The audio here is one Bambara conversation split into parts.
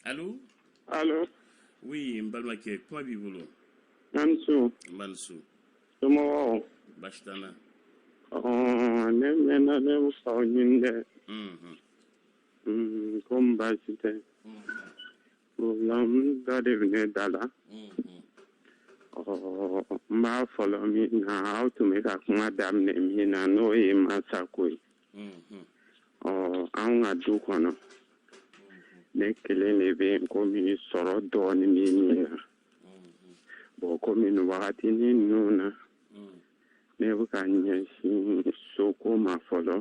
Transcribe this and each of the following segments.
Allô Allô Oui, n balimakɛ kuma b'i bolo. A ni su. N ba ni su. Somɔgɔw? Baasi t'an na. Ɔɔ ne mɛnna ne bɛ k'aw ɲini dɛ. Unhun. Unhun komi baasi tɛ. Unhun. Problème dɔ de bɛ ne da la. Unhun. Ɔɔ n b'a fɔlɔ min na aw tun bɛ ka kuma daminɛ min na n'o ye mansako ye. ɔ an ka du kɔnɔ ne kelen de bɛ yen komi sɔrɔ dɔɔnin bɛ min na bɔn komi nin wagati ni ninnu na ne bɛ ka ɲɛsin soko ma fɔlɔ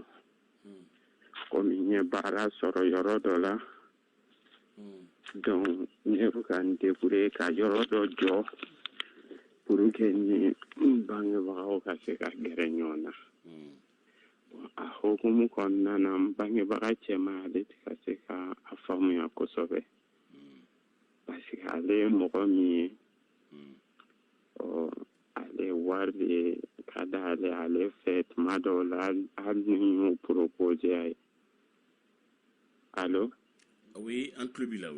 komi n ye baara sɔrɔ yɔrɔ dɔ la donc ne bɛ ka n débrouiller ka yɔrɔ dɔ jɔ pour que ni n bangebagaw ka se ka gɛrɛ ɲɔgɔn na a hokumu kɔnɔna na n bangebaga cɛma ale tɛ ka se ka a faamuya kosɛbɛ parce que ale ye mɔgɔ min ye ɔ ale wari de ka di ale ale fɛ tuma dɔw la hali ni n y'o proposer a ye Alo an tulo b'i la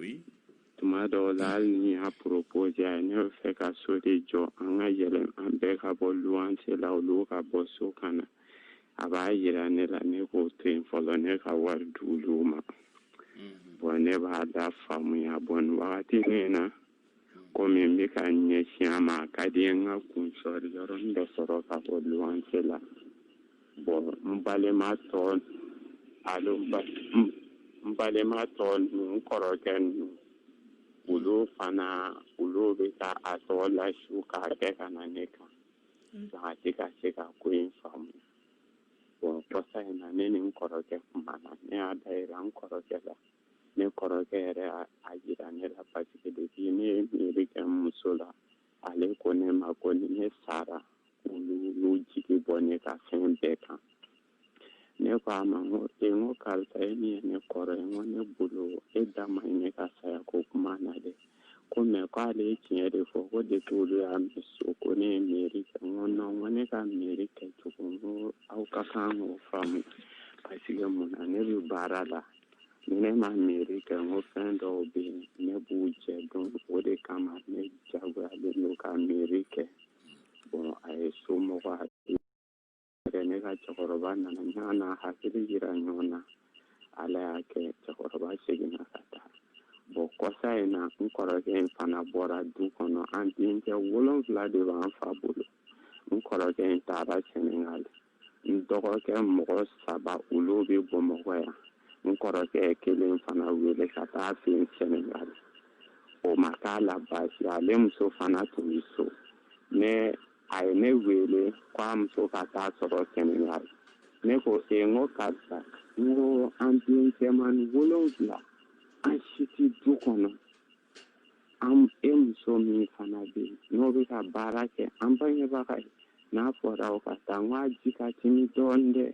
tuma dɔw la hali ni n y'a proposer a ye ne bɛ fɛ ka so de jɔ an ka yɛlɛ an bɛɛ ka bɔ luwanse la olu ka bɔ so ka na a b'a jira ne la ne k'o to yen fɔlɔ ne ka wari d'olu ma bɔn ne b'a da faamuya bɔn wagati nin na komi n bɛ ka n ɲɛsin a ma a ka di n ka kun sɔri yɔrɔnin dɔ sɔrɔ ka bɔ luwanse la bɔn n balima tɔ alo n balima tɔ ninnu n kɔrɔkɛ ninnu olu fana olu bɛ ka a tɔ lasu k'a kɛ ka na ne kan nka a tɛ ka se ka ko in faamu bɔn kɔsa in na ne ni n kɔrɔkɛ kumana ne y'a dayira n kɔrɔkɛ la ne kɔrɔkɛ yɛrɛ y'a jira ne la parce que depuis ne ye mairie kɛ n muso la ale ko ne ma ko ni ne sara olu y'u jigi bɔ ne ka fɛn bɛɛ kan ne ko a ma n ko e n ko karisa e min ye ne kɔrɔ ye n ko ne bolo e da man ɲi ne ka saya ko kuma na dɛ ko mais ko ale ye tiɲɛ de fɔ ko depuis olu y'a mɛn so ko ne ye mairie kɛ n ko non n ko ne ka mairie kɛcogo n ko aw ka kan k'o faamu parce que mun na ne bɛ baara la ni ne ma mairie kɛ n ko fɛn dɔw bɛ yen ne b'u jɛ donc o de kama ne jagoyalen don ka mairie kɛ bɔn a ye somɔgɔ hakili kɛ ne ka cɛkɔrɔba nana yan an ye hakili jira ɲɔgɔn na ala y'a kɛ cɛkɔrɔba seginna ka taa bɔn kɔsa in na n kɔrɔkɛ in fana bɔra du kɔnɔ an denkɛ wolonfila de b'an fa bolo n kɔrɔkɛ in taara sɛnɛgali n dɔgɔkɛ mɔgɔ saba olu bɛ bamakɔ yan n kɔrɔkɛ kelen fana wele ka taa fɛn senegal o ma k'a la baasi ale muso fana tun bɛ so ne a ye ne wele k'a muso ka taa sɔrɔ senegal ne ko e n ko karisa n ko an denkɛman wolonfila an si tɛ du kɔnɔ an e muso min fana bɛ yen n'o bɛ ka baara kɛ an bangebaga ye n'a fɔra o ka taa n k'a ji ka timi dɔɔnin dɛ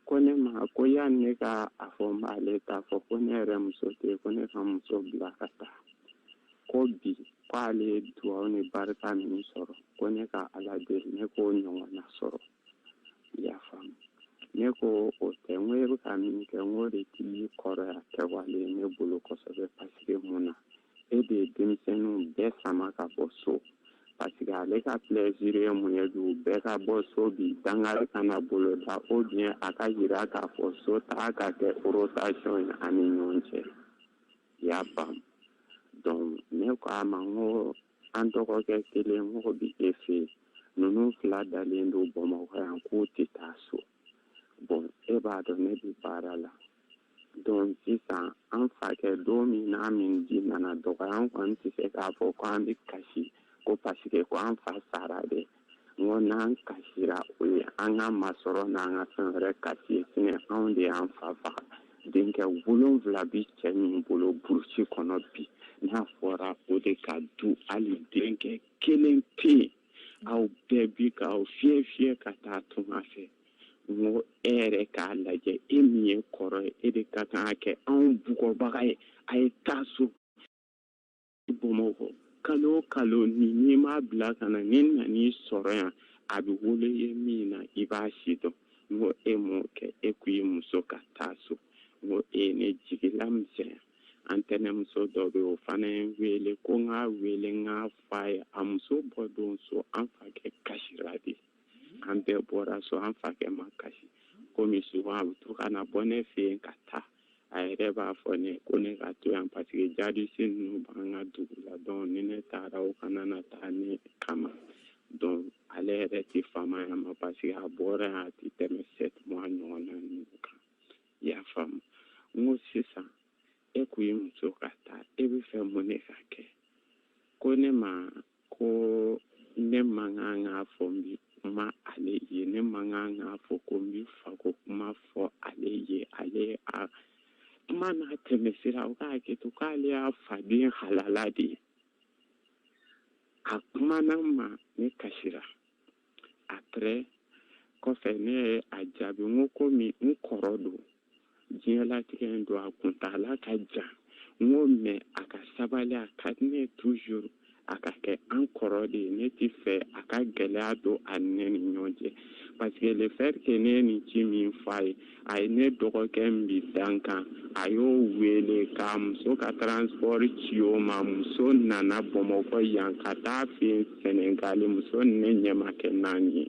ko ne ma ko yan ne ka a fɔ n b'ale t'a fɔ ko ne yɛrɛ muso tɛ ko ne ka muso bila ka taa ko bi k'ale ye dugawu ni barika min sɔrɔ ko ne ka ala deli ne k'o ɲɔgɔnna sɔrɔ y'a faamu ne ko o tɛ n ko e bɛ ka min kɛ n ko o de tɛ kɔrɔya kɛwale ye ne bolo kosɛbɛ paseke mun na e de ye denmisɛnninw bɛɛ sama ka bɔ so paseke ale ka plaisir ye mun ye du bɛɛ ka bɔ so bi dangari kana bolo da ou bien a ka jira k'a fɔ so taa ka kɛ rotation ye an ni ɲɔgɔn cɛ i y'a faamu donc ne ko a ma n ko an dɔgɔkɛ kelen mɔgɔ bɛ e fɛ ninnu fila dalen don bamakɔ yan k'u tɛ taa so bon e b'a dɔn ne bɛ baara la donc sisan an fakɛ don min n'a min ji nana dɔgɔya an kɔni tɛ se k'a fɔ ko an bɛ kasi ko paseke ko an fa sara de n'an kasira o ye an ka masɔrɔ n'an ka fɛn wɛrɛ kasi ye sinon anw de y'an fa faga denkɛ wolonfila bɛ cɛ min bolo burusi kɔnɔ bi n'a fɔra o de ka du hali denkɛ kelen tɛ yen aw bɛɛ bi ka aw fiyɛ fiyɛ ka taa tunga fɛ n ko e yɛrɛ k'a lajɛ e min ye kɔrɔ ye e de ka kan ka kɛ anw bugɔbaga ye a ye taa so bamakɔ kalo kalo ni e m'a bila ka na ni n nan'i sɔrɔ yan a bɛ wolo ye min na i b'a si dɔn n ko e m'o kɛ e ko i muso ka taa so n ko e ye ne jigilamisɛnya an tɛnɛmuso dɔ bɛ o fana ye n wele ko n k'a wele n k'a f'a ye a muso bɔ don so an fakɛ kasira de an bɛɛ bɔra so an fakɛ ma kasi komi souvent a bɛ to ka na bɔ ne fɛ yen ka taa a yɛrɛ b'a fɔ ne ko ne ka to yan paseke jadisi ninnu b'an ka dugu la donc ni ne taara o kana na taa ne kama donc ale yɛrɛ tɛ fama yan ma paseke a bɔra yan a tɛ tɛmɛ sept mois ɲɔgɔn na ninnu kan i y'a faamu n ko sisan e ko i muso ka taa e bɛ fɛ mun ne ka kɛ ko ne ma ko ne man kan k'a fɔ n bi kuma ale ye ne man kan k'a fɔ ko n bi fako kuma fɔ ale ye ale a kuma n'a tɛmɛ sira o k'a kɛ to k'ale y'a faden halala de ye a kumana n ma ne kasira après kɔfɛ ne ye a jaabi n ko komi n kɔrɔ don diɲɛlatigɛ in don a kuntaala ka jan n ko mais a ka sabali a ka diɲɛ toujours a ka kɛ an kɔrɔ de ye ne ti fɛ a ka gɛlɛya don an ni ɲɔgɔn cɛ parce que le fait que ne ye nin ci min fɔ a ye a ye ne dɔgɔkɛ min bi dankan a y'o wele k'a muso ka transport ci o ma muso nana bamakɔ yan ka taa a fɛ yen sɛnɛgali muso ni ne ɲɛ ma kɛ naani ye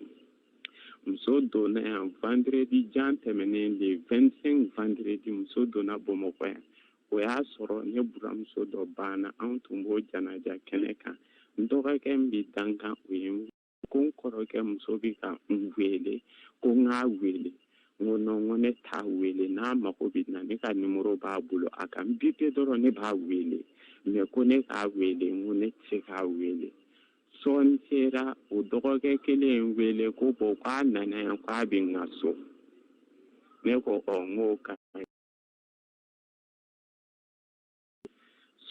muso donna yan vendredi jan tɛmɛnen le vingt-cinq vendredi muso donna bamakɔ yan o y'a sɔrɔ ne buranmuso dɔ banna anw tun b'o janaja kɛnɛ kan n dɔgɔkɛ min bɛ dankan o ye ko n kɔrɔkɛ muso bɛ ka n wele ko n k'a wele n ko non n ko ne t'a wele n'a mago bɛ n na ne ka nimoro b'a bolo a ka n bipe dɔrɔn ne b'a wele mais ko ne k'a wele n ko ne tɛ se k'a wele sɔɔni sera o dɔgɔkɛ kelen ye n wele ko bon k'a nana yan k'a bɛ n ka so ne ko ɔ n k'o ka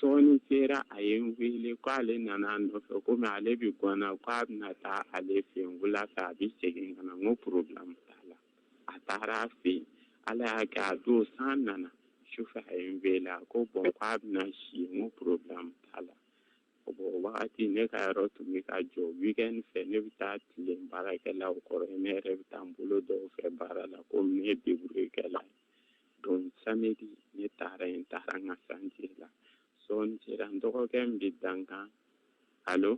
sɔɔni sera a ye n wele ko ale nana a nɔfɛ komi ale bɛ gana ko a bɛna taa ale fɛ yen wula fɛ a bɛ segin ka na n ko problème t'a la a taara a fɛ yen ala y'a kɛ a don san nana sufɛ a ye n wele a ko bon ko a bɛna si n ko problème t'a la bon o wagati ne ka yɔrɔ tun bɛ ka jɔ weekend fɛ ne bɛ taa tilen baarakɛlaw kɔrɔ ne yɛrɛ bɛ taa n bolo don u fɛ baara la komi ne ye deburuyekɛla ye donc samedi ne taara yen n taara n ka chantier la sɔɔni sera n dɔgɔkɛ min bɛ dankan allô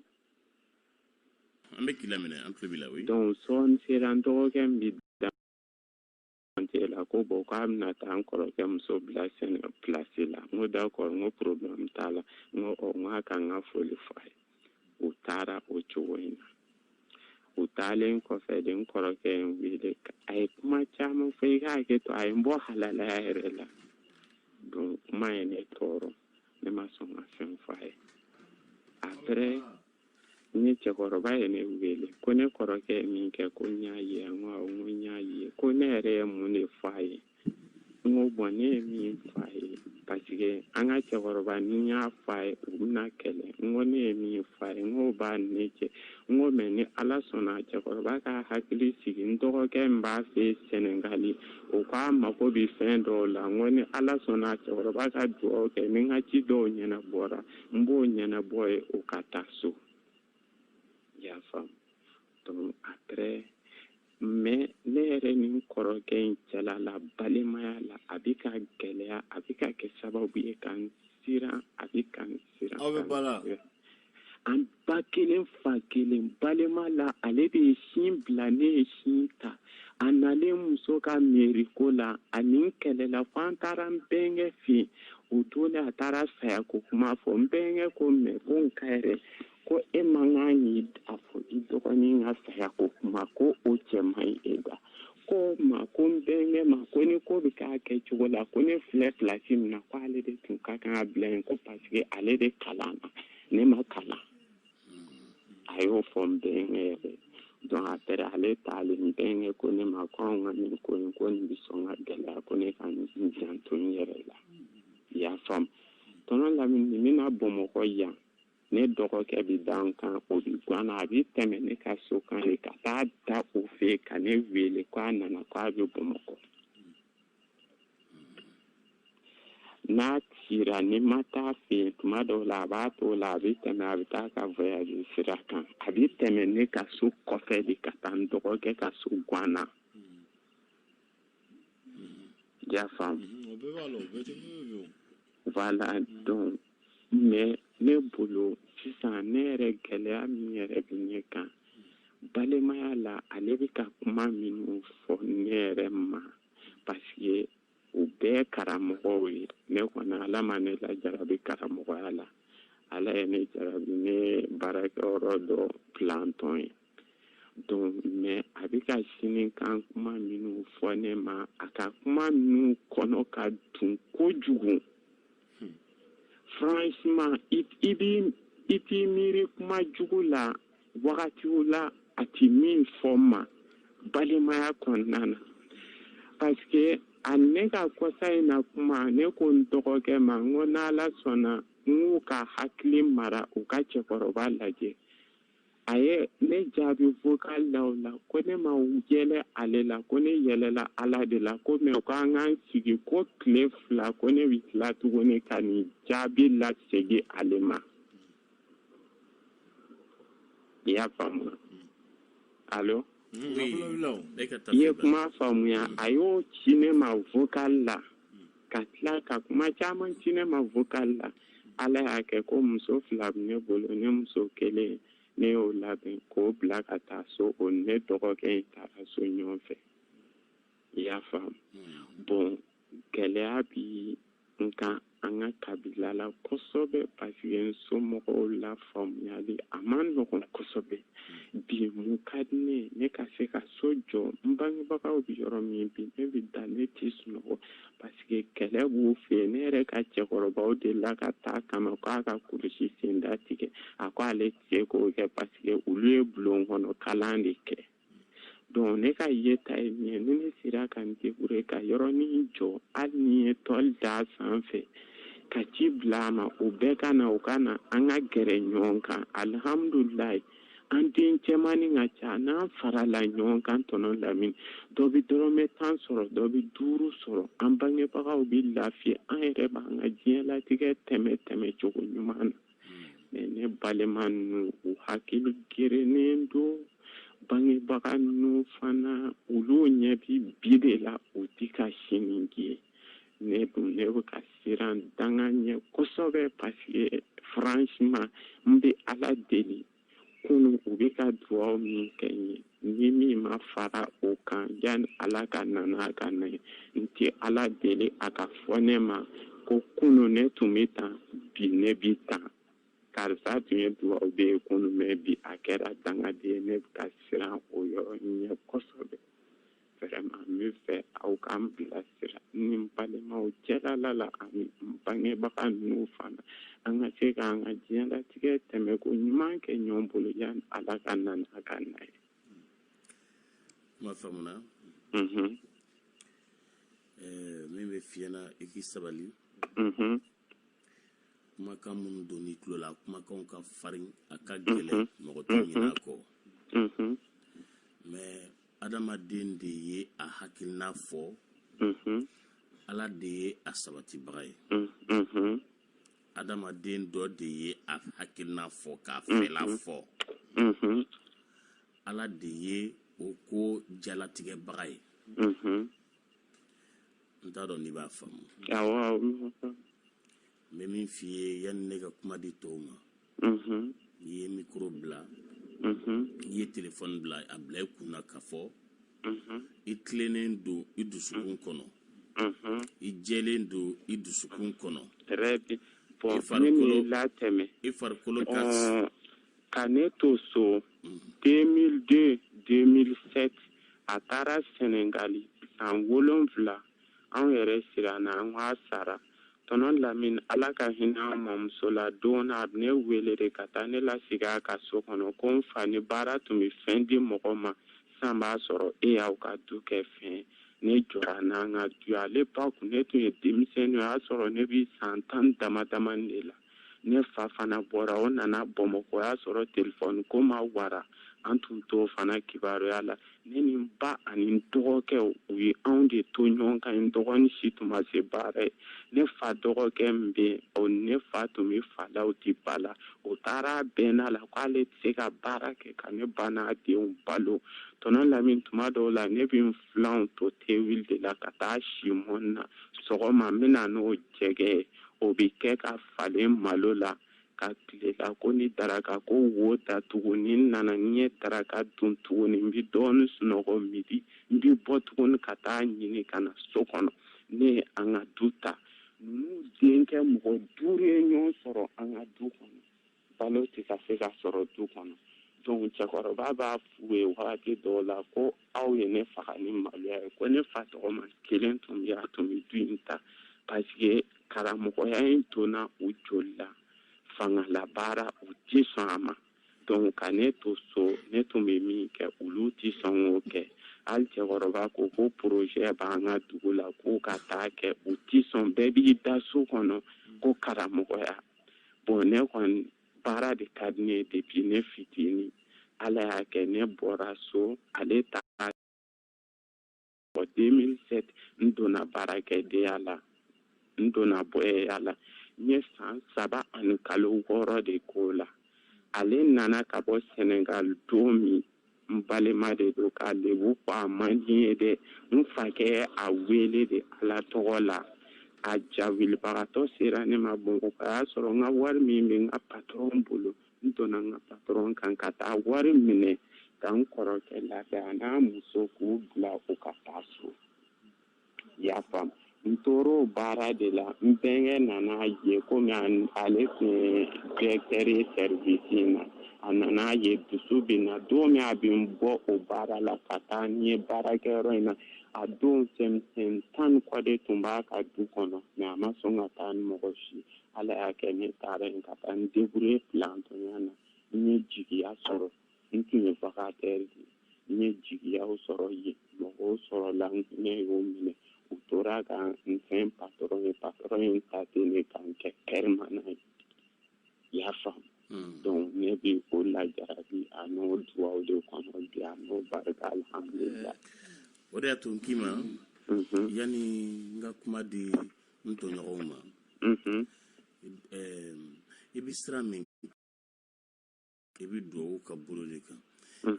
an bɛ k'i lamɛn an tulo b'i la oui donc sɔɔni sera n dɔgɔkɛ min bɛ dankan la ko bon k'a bɛna taa n kɔrɔkɛ muso bila sɛnɛ pilasi la n ko d'accord n ko problème t'a la n ko ɔ n k'a ka n ka foli fɔ a ye u taara o cogo in na u taalen kɔfɛ de n kɔrɔkɛ ye n wele a ye kuma caman fɔ i ka hakɛ to a ye n bɔ halalaya yɛrɛ la donc kuma ye ne tɔɔrɔ ne ma sɔn ka fɛn fɔ a ye après ne cɛkɔrɔba ye ne wele ko ne kɔrɔkɛ ye min kɛ ko n y'a ye n ko awɔ n ko n y'a ye ko ne yɛrɛ ye mun de fɔ a ye N ko bon ne ye min f'a ye parce que an ka cɛkɔrɔba ni n y'a f'a ye u bɛna kɛlɛ n ko ne ye min f'a ye n k'o b'a ne cɛ n ko mais ni ala sɔnna cɛkɔrɔba ka hakili sigi n dɔgɔkɛ min b'a fɛ sɛnɛgali o ka mago bɛ fɛn dɔw la n ko ni ala sɔnna cɛkɔrɔba ka dugawu kɛ ni n ka ci dɔw ɲɛnabɔra n b'o ɲɛnabɔ ye o ka taa so y'a faa mais ne yɛrɛ ni n kɔrɔkɛ in cɛla la balimaya la a bɛ ka gɛlɛya a bɛ ka kɛ sababu ye ka n siran a bɛ ka n siran aw bɛ bala an ba kelen fa kelen balima la ale de ye sin bila ne ye sin ta a nalen muso ka mairie ko la a ni n kɛlɛla fo an taara n bɛnkɛ fɛ yen o don de a taara sayako kuma fɔ n bɛnkɛ ko mais ko n ka yɛrɛ ko e man kan k'a fɔ i dɔgɔnin ka saya ko kuma ko o cɛ man ɲi e da ko ma ko n bɛnkɛ ma ko ni ko bɛ k'a kɛcogo la ko ne filɛ place min na ko ale de tun ka kan ka bila yen ko parce que ale de kalanna ne ma kalan a y'o fɔ n bɛnkɛ yɛrɛ donc après ale taalen n bɛnkɛ ko ne ma ko anw ka nin ko in ko nin bɛ sɔn ka gɛlɛya ko ne ka n janto n yɛrɛ la i y'a faamu tonton lamini n'a bɛ na bamakɔ yan ne dɔgɔkɛ bɛ dankan o bɛ gana a bɛ tɛmɛ ne ka so kan de ka taa da o fɛ ka ne wele k'a nana k'a bɛ bamakɔ n'a kɛra ne ma taa a fɛ yen tuma dɔw la a b'a to la a bɛ tɛmɛ a bɛ taa ka voyage sira kan a bɛ tɛmɛ ne ka so kɔfɛ de ka taa n dɔgɔkɛ ka so gana. I y'a faamu o bɛɛ b'a la o bɛɛ tɛ bɛɛ voilà donc mais ne bolo sisan ne yɛrɛ gɛlɛya min yɛrɛ bɛ ne kan balimaya la ale bɛ ka kuma minnu fɔ ne yɛrɛ ma parce que u bɛɛ karamɔgɔw ye ne kɔni ala ma ne lajarabi karamɔgɔya la ala ye ne jarabi ne baarakɛyɔrɔ dɔ planton ye donc mais a bɛ ka sini kan kuma minnu fɔ ne ma a ka kuma minnu kɔnɔ ka dun kojugu hmm. franchement i b'i i t'i miiri kuma jugu la wagatiw la a ti min fɔ n ma balimaya kɔnɔna na parce que a ne ka kɔsa in na kuma ne ko n dɔgɔkɛ ma n ko n'ala sɔnna n k'u ka hakili mara u ka cɛkɔrɔba lajɛ a ye ne jaabi vocal la o la ko ne ma yɛlɛ ale la ko ne yɛlɛla ala de la ko mais ko an k'an sigi ko tile fila ko ne bɛ tila tuguni ka nin jaabi lasegin ale ma i y'a faamu allô i ye kuma faamuya a y'o ci ne ma vocal la ka tila ka kuma caman ci ne ma vocal la ala y'a kɛ ko muso fila bɛ ne bolo ne muso kelen ne y'o labɛn k'o bila ka taa so o ni n dɔgɔkɛ in taara so ɲɔgɔn fɛ i y'a faamu bon gɛlɛya bi n kan an ka kabila la kosɛbɛ parce que n somɔgɔw la faamuyali a man nɔgɔn kosɛbɛ bi mun ka di ne ne ka se ka so jɔ n bangebagaw bɛ yɔrɔ min bi ne bɛ da ne tɛ sunɔgɔ parce que kɛlɛ b'u fɛ ne yɛrɛ ka cɛkɔrɔbaw delila ka taa kama k'a ka kulusi senda tigɛ a ko ale tɛ se k'o kɛ parce que olu ye bulon kɔnɔ kalan de kɛ ne ka yeta ye min ye ni ne sera ka n débrouiller ka yɔrɔnin jɔ hali ni ye tɔli d'a sanfɛ ka ci bila a ma o bɛɛ ka na o ka na an ka gɛrɛ ɲɔgɔn kan alihamdulilayi an den cɛmannin ka ca n'an farala ɲɔgɔn kan tɔnɔ lamini dɔ bɛ dɔrɔmɛ tan sɔrɔ dɔ bɛ duuru sɔrɔ an bangebagaw bɛ lafiya an yɛrɛ b'an ka diɲɛlatigɛ tɛmɛ tɛmɛ cogo ɲuman na ne balima ninnu u hakili gerennen don bangebaga ninnu fana olu ɲɛ bi bi de la u tɛ ka sini ye ne dun ne bɛ ka siran danga ɲɛ kosɛbɛ parce que franchement n bɛ ala deli kunun u bɛ ka dugaw min kɛ n ye ni min ma fara o kan yanni ala ka na n'a ka na ye n tɛ ala deli a ka fɔ ne ma ko kunun ne tun bɛ tan bi ne bi tan karisa tun ye dugawden ye kunun mais bi a kɛra dangaden ye ne bɛ ka siran o yɔrɔ ɲɛ kosɛbɛ Vraiment n b'a fɛ aw k'an bilasira ni n balimaw cɛlala la ani n bangebaga ninnu fana an ka se k'an ka diɲɛlatigɛ tɛmɛko ɲuman kɛ ɲɔgɔn bolo yani Ala ka na n'a ka na ye. Kuma faamuna. Unhun. Ɛɛ min bɛ f'i ɲɛna i k'i sabali. Unhun. Kumakan minnu donn'i tulo la, kumakanw ka farin, a ka gɛlɛn, mɔgɔ tɛ ɲinɛ a kɔ. Unhun. Mais adamaden de ye a hakilina fɔ ala de ye a sabatibaga ye adamaden dɔ de ye a hakilina fɔ k'a fɛla fɔ ala de ye o ko jalatigɛbaga ye n t'a dɔn n'i b'a faamu n bɛ min f'i ye yanni ne ka kuma di tɔw ma n'i ye mikoro bila i ye telefɔni bila a bila i kun na k'a fɔ i tilennen don i dusukun kɔnɔ i jɛlen don i dusukun kɔnɔ i farikolo ka ne to so 2002 2007 a taara sɛnɛgali san wolonwula anw yɛrɛ siranna an k'a sara tɔnɔ lamini ala ka hinɛ an mamuso la don a ne wele de ka taa ne lasigi a ka so kɔnɔ ko n fa ni baara tun bɛ fɛn di mɔgɔ ma san b'a sɔrɔ e y'aw ka du kɛ fɛn ne jɔra n'an ka du ye à l'époque ne tun ye denmisɛnnin o y'a sɔrɔ ne bɛ san tan dama dama de la ne fa fana bɔra o nana bamakɔ o y'a sɔrɔ telefɔni ko ma wara an tun t'o fana kibaruya la ne ni n ba ani n dɔgɔkɛ u ye anw de to ɲɔgɔn kan n dɔgɔnin si tun ma se baara ye ne fa dɔgɔkɛ min bɛ yen o ne fa tun bɛ fa la u tɛ ba la o taara bɛnna la k'ale tɛ se ka baara kɛ ka ne ba n'a denw balo tɔnɔ lamini tuma dɔw la ne bɛ n filanw to tewuli de la ka taa si mɔni na sɔgɔma n bɛ na n'o jɛgɛ ye o bɛ kɛ ka falen malo la ka tilela ko ni daraka ko wo ta tugun ni n nana ne ye daraka dun tuguni n bɛ dɔɔnin sunɔgɔ midi n bɛ bɔ tuguni ka taa ɲini ka na so kɔnɔ ne ye an ka du ta ninnu denkɛ mɔgɔ duuru ye ɲɔgɔn sɔrɔ an ka du kɔnɔ balo tɛ ka se ka sɔrɔ du kɔnɔ donc cɛkɔrɔba b'a f'u ye wagati dɔw la ko aw ye ne faga ni maloya ye ko ne fa tɔgɔma kelen tun bɛ yen a tun bɛ du in ta parce que karamɔgɔya in donna u joli la fangalabaara u tɛ sɔn a ma donc ka ne to so ne tun bɛ min kɛ olu tɛ sɔn k'o kɛ hali cɛkɔrɔba ko ko projet b'an ka dugu la k'u ka taa kɛ u tɛ sɔn bɛɛ b'i da so kɔnɔ ko karamɔgɔya bon ne kɔni baara de ka di ne ye depuis ne fitinin ala y'a kɛ ne bɔra so ale taara deux mille sept n donna baarakɛdenya la n donna bɔyiya la n ye san saba ani kalo wɔɔrɔ de k'o la ale nana ka bɔ senegal don min n balima de don k'a lebu fɔ a man di n ye dɛ n fakɛ a wele de ala tɔgɔ la a jawulibagatɔ sera ne ma bamakɔ a y'a sɔrɔ n ka wari min bɛ n ka patɔrɔn bolo n donna n ka patɔrɔn kan ka taa wari minɛ ka n kɔrɔkɛ ladiya a n'a muso k'u bila u ka taa so i y'a faamu n tor'o baara de la n bɛnkɛ nana ye komi ale tun ye directeur ye service in na a nana ye dusu bɛ na don min a bɛ n bɔ o baara la ka taa n ye baarakɛyɔrɔ in na a don cɛmisɛn tan ni kɔ de tun b'a ka du kɔnɔ mais a ma sɔn ka taa ni mɔgɔ si ala y'a kɛ ne taara yen ka taa n débrouiller plantonya na n ye jigiya sɔrɔ n tun ye vacataire de ye n ye jigiyaw sɔrɔ yen mɔgɔw sɔrɔla n hinɛ y'o minɛ u tora ka n fɛn patɔrɔn ye patɔrɔn ye n ta ten ne ka n kɛ permanent ye i y'a faamu hmm. donc ne bɛ o lajarabi a n'o duwaw de kɔnɔ bi a n'o barika alhamdulila eh, o de y'a to n k'i ma mhm. yanni n ka kuma di n tɔɲɔgɔnw ma mhm. eh, i bɛ sira min i bɛ duwawu ka bolo de kan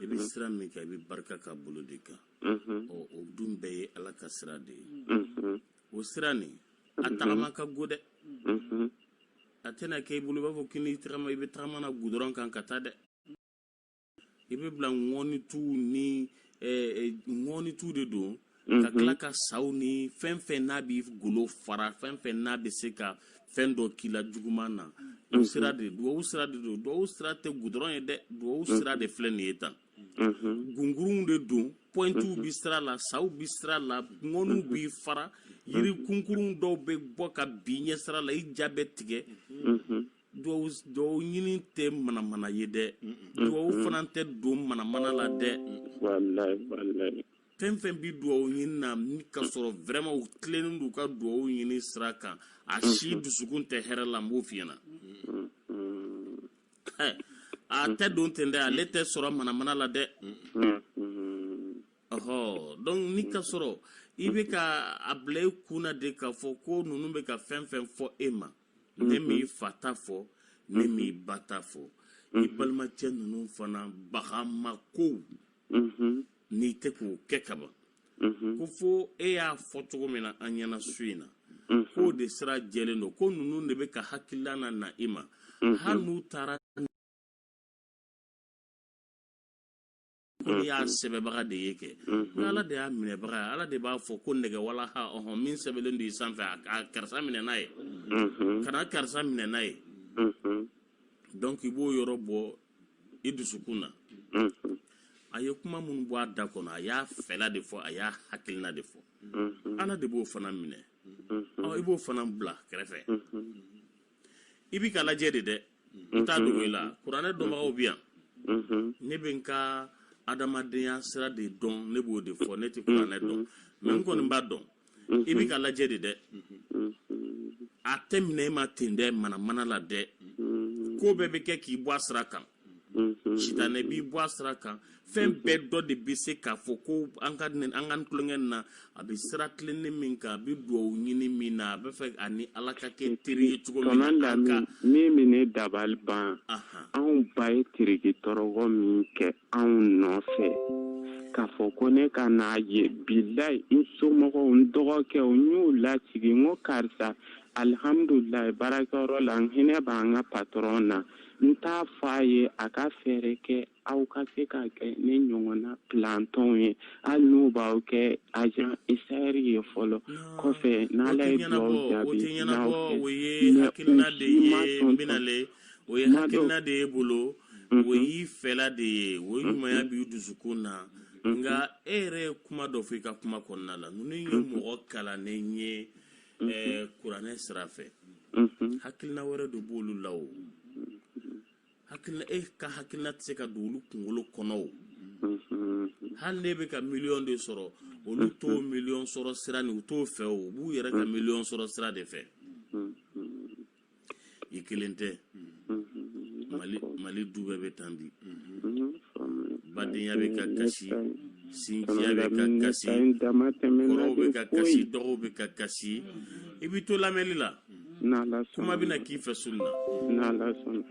i bɛ sira min kan i bɛ barika ka bolo de kan ɔ o dun bɛɛ ye ala ka sira de ye o sira nin a tagama ka go dɛ a tɛna kɛ i bolo i b'a fɔ k'i n'i tagama i bɛ tagama na gudɔrɔn kan ka taa dɛ i bɛ bila ŋɔni tu ni ŋɔni tu de don ka tila ka saw ni fɛn fɛn n'a b'i golo fara fɛn fɛn n'a bɛ se ka fɛn dɔ k'i la juguman na o sira de duwawu sira de don duwawu sira tɛ gudɔrɔn ye dɛ duwawu sira de filɛ nin ye tan gunkurunw de don pɔintuw bi sira la saw bi sira la ŋɔniw b'i fara yiri kunkurunw dɔw bɛ bɔ ka bin ɲɛ sira la i ja bɛ tigɛ duwawu ɲini tɛ manamana ye dɛ duwawu fana tɛ don manamana la dɛ fɛn fɛn bɛ duwawu ɲini na ni ka sɔrɔ vraiment u tilennen don u ka duwawu ɲini sira kan a mhm. si dusukun tɛ hɛrɛ la n b'o f'i ɲɛna eh, a tɛ don ten dɛ ale tɛ sɔrɔ manamana la dɛ ɔhɔ donc ni ka sɔrɔ i bɛ ka a bila i kun na de k'a fɔ ko ninnu bɛ ka fɛn fɛn fɔ e ma ne mhm. m'i fa ta fɔ ne mhm. m'i ba ta fɔ i balimacɛ ninnu fana bagamakow n'i tɛ k'o kɛ kaban mhm. ko fo e y'a fɔ cogo min na an ɲɛna su in na mhm. k'o de sira jɛlen don ko ninnu de bɛ ka hakilila na na i ma mhm. hali n'u taara ko n'i y'a sɛbɛbaga de ye kɛ ni ala de y'a minɛbaga ye ala de b'a fɔ ko nɛgɛ walaha ɔhɔn min sɛbɛlen don i sanfɛ a karisa minɛ n'a ye kana karisa minɛ n'a ye donc i b'o yɔrɔ bɔ i dusukun na a ye kuma minnu bɔ a da kɔnɔ a y'a fɛla de fɔ a y'a hakilina de fɔ ala de b'o fana minɛ i b'o fana bila kɛrɛfɛ i b'i ka lajɛ de dɛ n t'a dogo i la kuranɛ dɔnbagaw bɛ yan ne bɛ n ka adamadenya sira de dɔn ne b'o de fɔ ne tɛ kuranɛ dɔn mais n kɔni b'a dɔn i bɛ ka lajɛ de dɛ a tɛ minɛ e ma ten dɛ manamana la dɛ ko bɛɛ bɛ kɛ k'i bɔ a sira kan sitanɛ b'i bɔ a sira kan fɛn bɛɛ dɔ de bɛ se k'a fɔ ko an ka an ka tulonkɛ na a bɛ sira tilennen min kan a bɛ dugawu ɲini min na a bɛ fɛ a ni ala ka kɛ teri ye cogo min na min bɛ ne dabali ban anw ba ye tirigi tɔrɔgɔ min kɛ anw nɔfɛ k'a fɔ ko ne ka n'a ye bilayi n somɔgɔw n dɔgɔkɛw n y'u lasigi n ko karisa alihamudulilayi baarakɛyɔrɔ la n hinɛ b'an ka patɔrɔn na n t'a fɔ a ye a ka fɛɛrɛ kɛ aw ka se ka kɛ ne ɲɔgɔnna pilantɔnw ye hali n'u b'aw kɛ ajan isayɛri ye fɔlɔ kɔfɛ n'ala ye dugawu jaabi n'aw fɛ mɛ u si ma sɔn o ye hakilina de ye bolo mhm. o y'i fɛla de ye o mhm. ɲumanya b'i dusukun na mhm. nka e yɛrɛ ye kuma dɔ fɔ i ka kuma kɔnɔna la ninnu ye mɔgɔ kalannen ye eh, kuranɛ sira fɛ hakilina wɛrɛ de b'olu la o hakilina e ka hakilina tɛ se ka don olu kunkolo kɔnɔ o hali n'e bɛ ka miliyɔn de sɔrɔ olu t'o miliyɔn sɔrɔ sira ni u t'o fɛ o u b'u yɛrɛ ka miliyɔn sɔrɔ sira de fɛ i kelen tɛ mali mali du bɛɛ bɛ tan bi badenya bɛ ka kasi sinjiya bɛ ka kasi kɔrɔw bɛ ka kasi dɔgɔw bɛ ka kasi i b'i to lamɛnni la kuma bɛna k'i fɛ soli la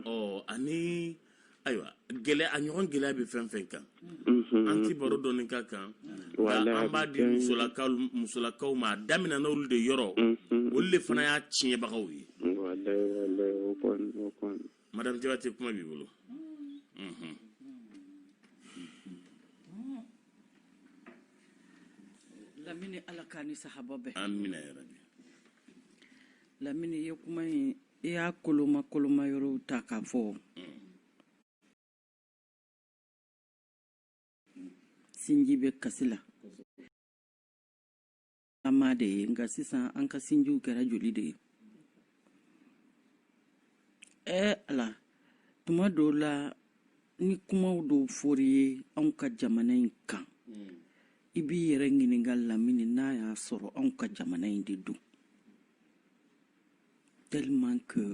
ɔ ani ayiwa gɛlɛ a ɲɔgɔn gɛlɛya bɛ fɛn fɛn kan mhm. an tɛ baro dɔɔni ka kan an b'a di musolakaw musolakaw ma a daminɛna olu de yɔrɔ mhm. olu de fana y'a tiɲɛbagaw ye madame jabate kuma b'i bolo mhm. lamini ala k'a ni sahaba bɛn amina yarabi lamini ye kuma in i y'a koloma kolomayɔrɔw ta k'a fɔ sinji bɛ kasi la ama de ye nka sisan an ka sinjiw kɛra joli de ye ɛɛ ala tuma dɔw la ni kumaw dɔw fɔr'i ye anw ka jamana in kan i b'i yɛrɛ ɲininka lamini n'a y'a sɔrɔ anw ka jamana in de don tellement que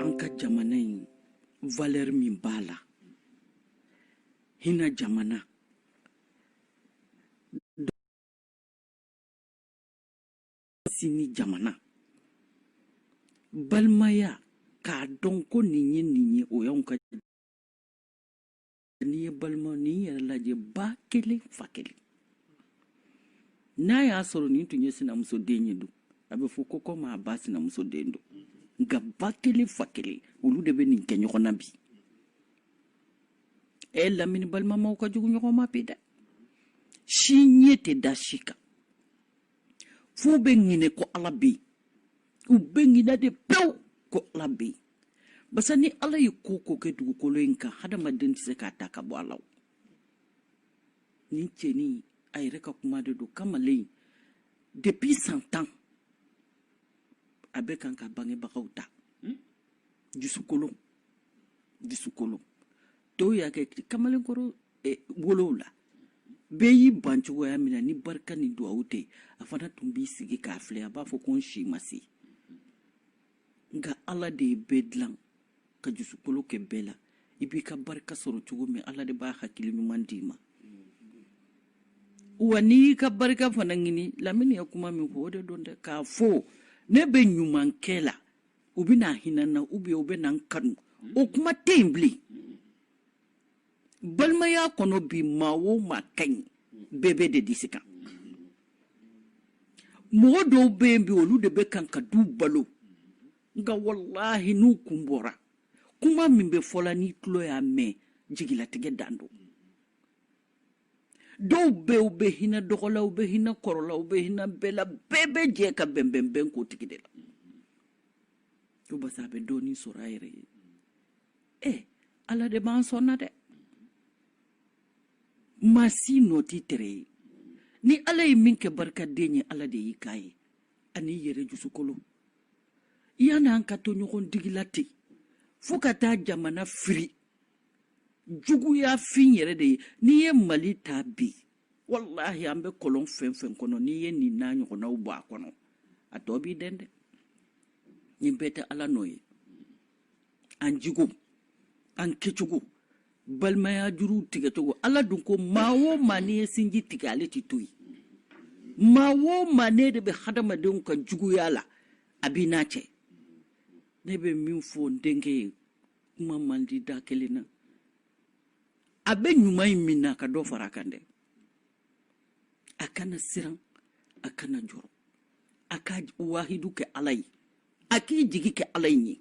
an ka jamana in valeur min b'a la hinɛ jamana sinji jamana balimaya k'a dɔn ko nin ye nin ye o y'anw ka n'i ye balima nin yɛrɛ lajɛ ba kelen fa kelen n'a y'a sɔrɔ nin tun ye sinamuso den ye dun a bɛ fɔ ko kɔmi a ba sinamuso den don nka ba kelen fa kelen olu de bɛ nin kɛ ɲɔgɔn na bi ɛ lamini balimamaw ka jugu ɲɔgɔn ma bi dɛ si ɲɛ tɛ da si kan f'u bɛ ɲinɛ ko ala bɛ yen u bɛ ɲinɛ de pewu ko ala bɛ yen basa ni ala ye ko o ko kɛ dugukolo in kan hadamaden tɛ se k'a ta ka bɔ a la nin cɛnin a yɛrɛ ka kuma de don kamalen depuis san tan a bɛ kan ka bangebagaw ta dusukolo dusukolo dɔw y'a kɛ kamalenkɔrɔ eh, wolow la bɛɛ y'i ban cogoya min na ni barika ni duwawu tɛ a fana tun b'i sigi k'a filɛ a b'a fɔ ko n si ma se nka ala de ye bɛɛ dilan ka dusukolo kɛ bɛɛ la i b'i ka barika sɔrɔ cogo min ala de b'a hakili ɲuman d'i ma wa n'i y'i ka barika fana ɲini lamini ye kuma min fɔ o de don dɛ k'a fɔ ne bɛ ɲuman kɛ la u bɛ na hinɛ n na u bɛ u bɛ na n kanu o kuma tɛ yen bilen balimaya kɔnɔ bi maa o maa ka ɲi bɛɛ bɛ d'i disi kan mɔgɔ dɔw bɛ yen bi olu de bɛ kan ka du balo nka walahi n'u kun bɔra kuma min bɛ fɔ la n'i tulo y'a mɛn jigilatigɛ dan don dɔw bɛ u bɛ hinɛ dɔgɔ la u bɛ hinɛ kɔrɔ la u bɛ hinɛ bɛɛ la bɛɛ bɛ jɛ ka bɛnbɛnbɛn k'o tigi de la ko basa a bɛ dɔɔnin sɔrɔ a yɛrɛ ye ɛ ala de b'an sɔn na dɛ maa si nɔ t'i tere ye ni ala ye min kɛ barikaden ye ala de y'i k'a ye an'i yɛrɛ dusukolo yann'an ka to ɲɔgɔn digi la ten fo ka taa jamana firi juguya fin yɛrɛ de ye n'i ye mali ta bi walahi an bɛ kɔlɔn fɛn fɛn kɔnɔ n'i ye nin n'a ɲɔgɔnnaw bɔ a kɔnɔ a tɔ b'i dɛn dɛ nin bɛɛ tɛ ala nɔ ye an jogo an kɛcogo balimaya juruw tigɛcogo ala dun ko maa o maa n'i ye sinji tigɛ ale tɛ to yen maa o maa n'e de bɛ hadamadenw ka juguya la a b'i n'a cɛ ne bɛ min fɔ n denkɛ ye kuma man di da kelen na a bɛ ɲuman in min na a ka dɔ fara a kan dɛ a kana siran a kana jɔrɔ a ka wahidu kɛ ala ye a k'i jigi kɛ ala in ye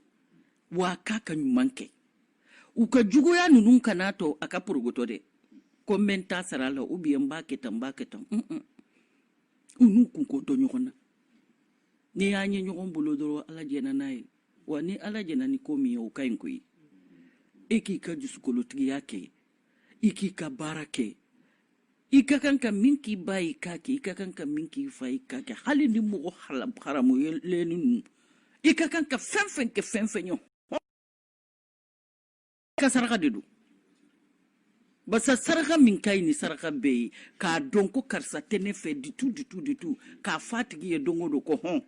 wa a k'a ka ɲuman kɛ u ka juguya ninnu kana to a ka porogotɔ dɛ ko n bɛ n ta sara la ubiyɛn n b'a kɛ tan n b'a kɛ tan u n'u kunko to ɲɔgɔn na n'i y'an ye ɲɔgɔn bolo dɔrɔn ala jɛnna n'a ye wa ni ala jɛnna ni ko min ye o ka ɲi koyi e k'i ka jusukolotigiya kɛ i k'i ka baara kɛ i ka kan ka min k'i ba y'i k'a kɛ i ka kan ka min k'i fa y'i k'a kɛ hali ni mɔgɔ haramulen ninnu i ka kan ka fɛn fɛn kɛ fɛn fɛn ye ka saraka de don basa saraka min ka ɲi ni saraka bɛɛ ye k'a dɔn ko karisa tɛ ne fɛ du tout du tout du tout k'a fɔ a tigi ye don o don ko hɔn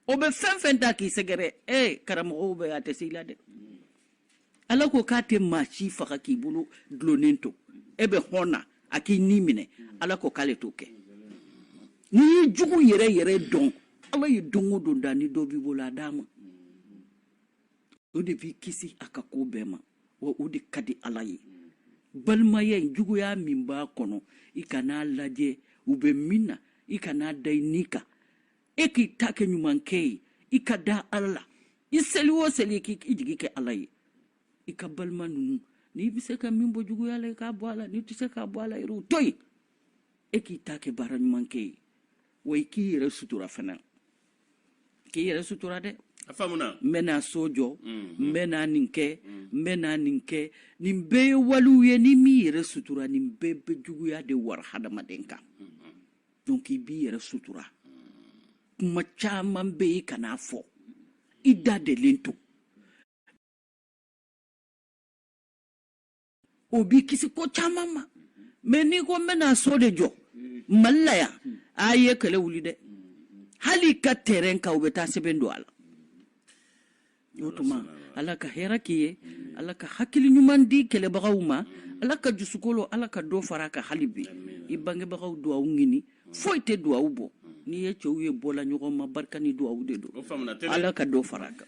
o bɛ fɛn fɛn ta k'i sɛgɛrɛ ee karamɔgɔw bɛ a tɛ se i la dɛ ala ko k'a tɛ maa si faga k'i bolo dulonnen to e bɛ hɔn na a k'i ni minɛ ala ko k'ale t'o kɛ n'i ye jugu yɛrɛ yɛrɛ dɔn ala ye don o don da ni dɔ b'i bolo a d'a ma o de b'i kisi a ka ko bɛɛ ma wa o de ka di ala ye balimaya in juguya min b'a kɔnɔ i kan'a lajɛ u bɛ min na i kan'a da i ni kan e k'i ta kɛ ɲumankɛ ye i ka da ala la i seli o seli k'i jigi kɛ ala ye i ka balima ninnu n'i bɛ se ka min bɔ juguya la i k'a bɔ a la n'i tɛ se k'a bɔ a la yɛrɛ o to yen e k'i ta kɛ baara ɲumankɛ ye wa i k'i yɛrɛ sutura fana k'i yɛrɛ sutura dɛ a faamuna n bɛna so jɔ mm, n bɛna nin kɛ mm. n bɛna nin kɛ nin bɛɛ ye walew ye n'i m'i yɛrɛ sutura nin bɛɛ bɛ juguya de wara hadamaden kan mm-hmm. donc i b'i yɛrɛ sutura kuma caman bɛ yen kan'a fɔ i da delen to o b'i kisi ko caman ma mais n'i ko n bɛna so de jɔ mali la yan a ye kɛlɛ wuli dɛ hali i ka tɛrɛn kan u bɛ taa sɛbɛn don a la o tuma ala ka hɛrɛ k'i ye ala ka hakili ɲuman di kɛlɛbagaw ma ala ka jusukolo ala ka dɔ fara a kan hali bi i bangebagaw duwawu ɲini foyi tɛ duwawu bɔ n'i ye cɛw ye bɔla ɲɔgɔn ma barika ni duwawu de don ala ka dɔ fara a kan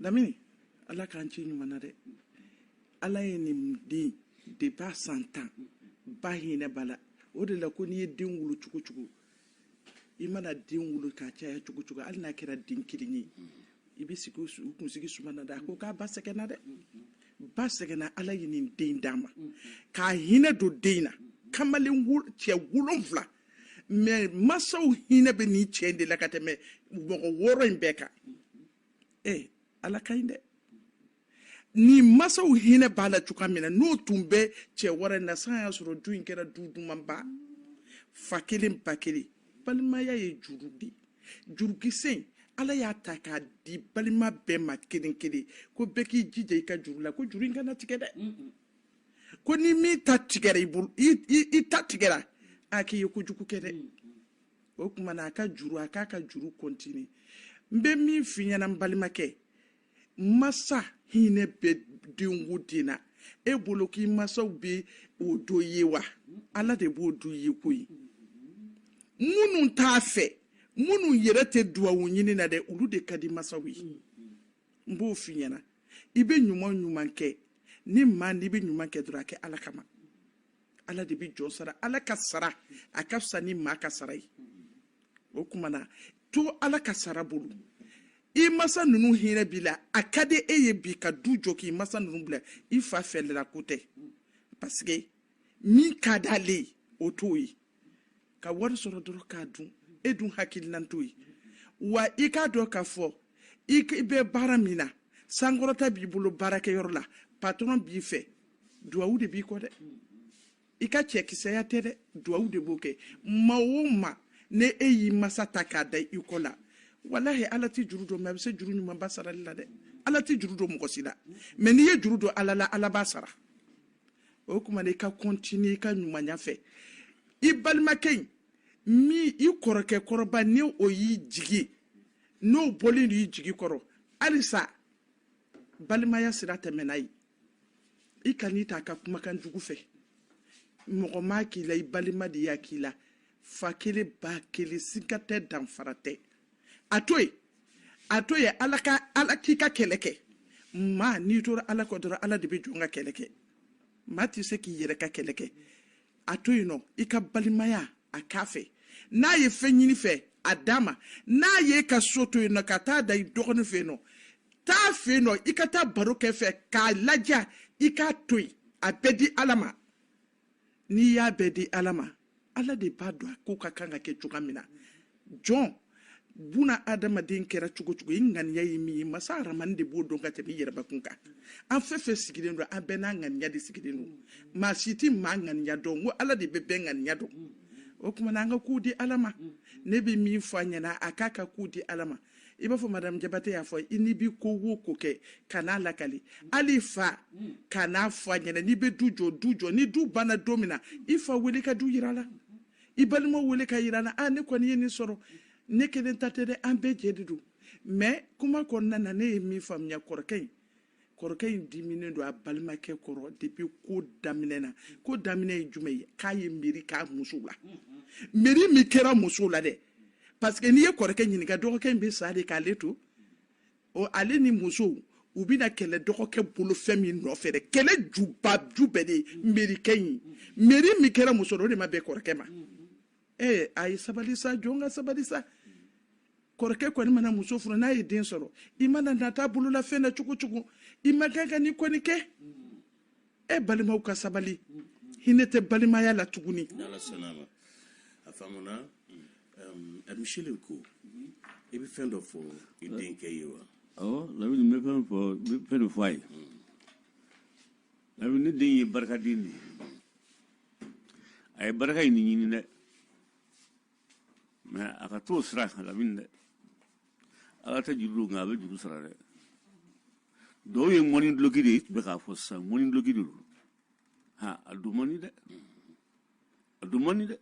lamini ala k'an ci ɲuman na dɛ ala ye nin den de b'a san tan ba hinɛ b'a la o de la ko n'i ye den wolo cogo cogo i mana den wolo k'a caya cogo cogo hali n'a kɛra den kelen ye i bɛ sigi u kunsigi suma na dɛ a ko k'a ba sɛgɛnna dɛ ba sɛgɛnna ala ye nin den d'a ma k'a hinɛ don den na kamalen cɛ wolonfila mais masaw hinɛ bɛ nin cɛ in de la ka tɛmɛ mɔgɔ wɔɔrɔ in bɛɛ kan ee eh, ala ka ɲi dɛ ni masaw hinɛ b'a la cogoya min na n'o tun bɛ cɛ wɔɔrɔ in na sa y'a sɔrɔ du in kɛra du dumanba fa kelen ba kelen balimaya ye juru de ye jurukisɛ in ala y'a ta k'a di balima bɛɛ ma kelen kelen ko bɛɛ k'i jija i ka juru la ko juru in kana tigɛ dɛ ko ni min ta tigɛra i bolo i ta tigɛra a k'i ye kojugu kɛ dɛ o kuma na a ka juru a k'a ka juru kɔntini n bɛ min f'i ɲɛna n balimakɛ masa hinɛ bɛ denko den na e bolo k'i masaw bɛ o do ye wa ala de b'o do ye ko ye minnu t'a fɛ minnu yɛrɛ tɛ duwawu ɲinina dɛ olu de ka di masaw ye. n b'o f'i ɲɛna i bɛ ɲuman ɲuman kɛ ni maa n'i bɛ ɲuman kɛ dɔrɔn a kɛ ala kama ala de bɛ jɔn sara ala ka sara a ka fisa ni maa ka sara ye o kuma na to ala ka sara bolo i masa ninnu hinɛ b'i la a ka di e ye bi ka du jɔ k'i masa ninnu bila i fa fɛlɛla ko tɛ parce que min ka d'ale ye o t'o ye ka wari sɔrɔ dɔrɔn k'a dun e dun hakilinan t'o ye wa i k'a dɔn k'a fɔ i bɛ baara min na sankɔrɔta b'i bolo baarakɛyɔrɔ la patɔrɔn b'i fɛ duwawu de b'i kɔ dɛ i ka cɛkisɛya tɛ dɛ duwawu de b'o kɛ maaw ma ni e y'i masa ta k'a da i kɔ la walahi ala tɛ juru don mɛ a bɛ se juru ɲumanba sarali la dɛ ala tɛ juru don mɔgɔ si la mɛ n'i ye juru don ala la ala b'a sara o kuma na i ka kɔntini i ka ɲumanya fɛ i balimakɛ in min i kɔrɔkɛ kɔrɔba ni o y'i jigi n'o bɔlen don i jigi kɔrɔ halisa balimaya sira tɛmɛn a ye i kan'i ta a ka kumakan jugu fɛ mɔgɔ m'a k'i la i balima de y'a k'i la fa kelen ba kelen siga tɛ danfara tɛ a to yen a to yen ala ka ala k'i ka kɛlɛ kɛ maa n'i tora ala kɔ dɔrɔn ala de bɛ jɔn ka kɛlɛ kɛ maa tɛ se k'i yɛrɛ ka kɛlɛ kɛ a to yen nɔ i ka balimaya k'a fɛ n'a ye fɛn ɲini i fɛ a d'a ma n'a y'a ka so to yen nɔ ka taa da i dɔgɔnin fɛ yen nɔ taa a fɛ yen nɔ i ka taa baro kɛ a fɛ k'a lajɛ i k'a to yen a bɛɛ di ala ma n'i y'a bɛɛ di ala ma ala de b'a dɔn a ko ka kan ka kɛ cogoya min na jɔn buna adamaden kɛra cogo cogo i ŋaniya ye min ye masa aramani de b'o dɔn ka tɛmɛ i yɛrɛbakun kan an fɛn fɛn sigilen don an bɛɛ n'a ŋaniya de sigilen don maa si tɛ maa ŋaniya dɔn ko ala de bɛ bɛɛ ŋaniya dɔn o tuma na an ka kow di ala ma ne bɛ min fɔ a ɲɛna a k'a ka kow di ala ma i b'a fɔ madamu jabate y'a fɔ i n'i bɛ ko wo ko kɛ kan'a lakali hali i fa kan'a fɔ a ɲɛna n'i bɛ du jɔ du jɔ ni du banna don min na i fa wele ka du yir'a la i balimaw wele k'a yir'u la a ne kɔni ye nin sɔrɔ ne kelen ta tɛ dɛ an bɛɛ jɛ de don mɛ kuma kɔnɔna na ne ye min faamuya kɔrɔkɛ in kɔrɔkɛ in diminen don a balimakɛ kɔrɔ depuis ko daminɛ na ko daminɛ ye jumɛn ye k'a ye meri k'a muso la meri min kɛra muso la dɛ parce que n'i ye kɔrɔkɛ ɲininka dɔgɔkɛ in bɛ sa de k'ale to ɔ ale ni muso u bɛna kɛlɛ dɔgɔkɛ bolo fɛn min nɔfɛ dɛ kɛlɛ juba ju bɛɛ de ye merikɛ in meri min kɛra muso la o de ma bɛn kɔrɔkɛ ma ee a ye sabali sa jɔn ka sabali sa kɔrɔkɛ kɔni mana muso furu n'a ye den sɔrɔ i mana nata bololafɛn na cogo cogo i ma kan ka nin kɔni kɛ e balimaw ka sabali hinɛ tɛ balimaya la tuguni a faamuna Michel ko i bɛ fɛn dɔ fɔ i denkɛ ye wa awɔ lamini n bɛ fɛn fɔ n bɛ fɛn dɔ fɔ a ye Lamini ne den ye barikaden de ye a ye barika in ɲini dɛ mais a ka t'o sira kan lamini dɛ ala tɛ juru don nka a bɛ juru sara dɛ dɔw ye ŋɔni duloki de ye i tun bɛ k'a fɔ sisan ŋɔni duloki de don ha a dun man di dɛ a dun man di dɛ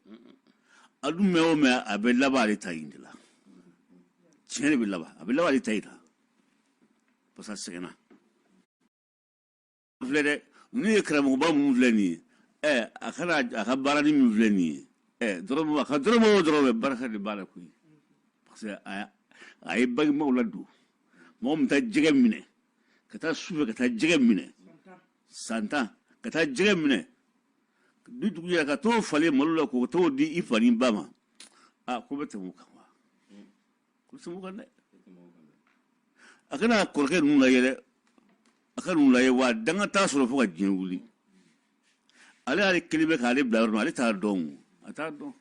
a dun mɛn o mɛn a bɛ laban ale ta in de la tiɲɛ de bɛ laban a bɛ laban ale ta in la parce que a sɛgɛnna filɛ dɛ ninnu ye karamɔgɔba minnu filɛ nin ye ɛ a kana a ka baarani min filɛ nin ye ɛ dɔrɔmɛ a ka dɔrɔmɛ o dɔrɔmɛ barika de b'a la koyi parce que a a ye bangebaaw ladon mɔgɔ min taa jɛgɛ minɛ ka taa sufɛ ka taa jɛgɛ minɛ san tan ka taa jɛgɛ minɛ ni dugu jɛra ka t'o falen malo la ko t'o di i fa n'i ba ma a ko bɛ tɛmɛ o kan a kana kɔrɔkɛ ninnu lajɛ dɛ a ka ninnu lajɛ wa danga t'a sɔrɔ fo ka diɲɛ wuli ale y'ale kelen bɛ k'ale bila yɔrɔ min ale t'a dɔn o a t'a dɔn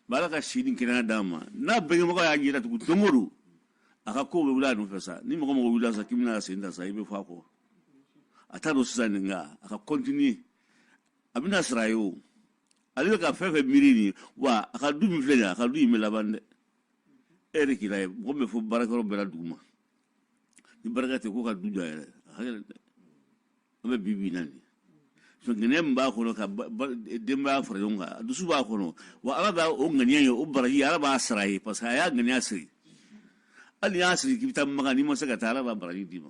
ba ala ka si ni kɛnɛya d'a ma n'a bangebaga y'a ɲɛ datugu don o don a ka kow bɛ wuli a nɔfɛ sa ni mɔgɔ mɔgɔ wulila sa k'i bɛna sen ta sa i bɛ fɔ a kɔ a t'a dɔn sisan nin nka a ka continuer a bɛna sara a ye o ale bɛ ka fɛn fɛn miiri nin wa a ka du min filɛ nin ye a ka du in bɛ laban dɛ e yɛrɛ k'i lajɛ mɔgɔ min bɛ fɔ baarakɛyɔrɔ bɛɛ la dugu ma ni barika tɛ ko ka du jɔ a yɛrɛ a ka gɛlɛn dɛ an bɛ bi bi na nin ŋaniya min b'a kɔnɔ ka denbaya fara ɲɔgɔn kan a dusu b'a kɔnɔ wa ala b'a o ŋaniya ye o baraji ala b'a sara a ye parce que a y'a ŋaniya siri hali n'i y'a siri k'i bɛ taa makan n'i ma se ka taa ala b'a baraji d'i ma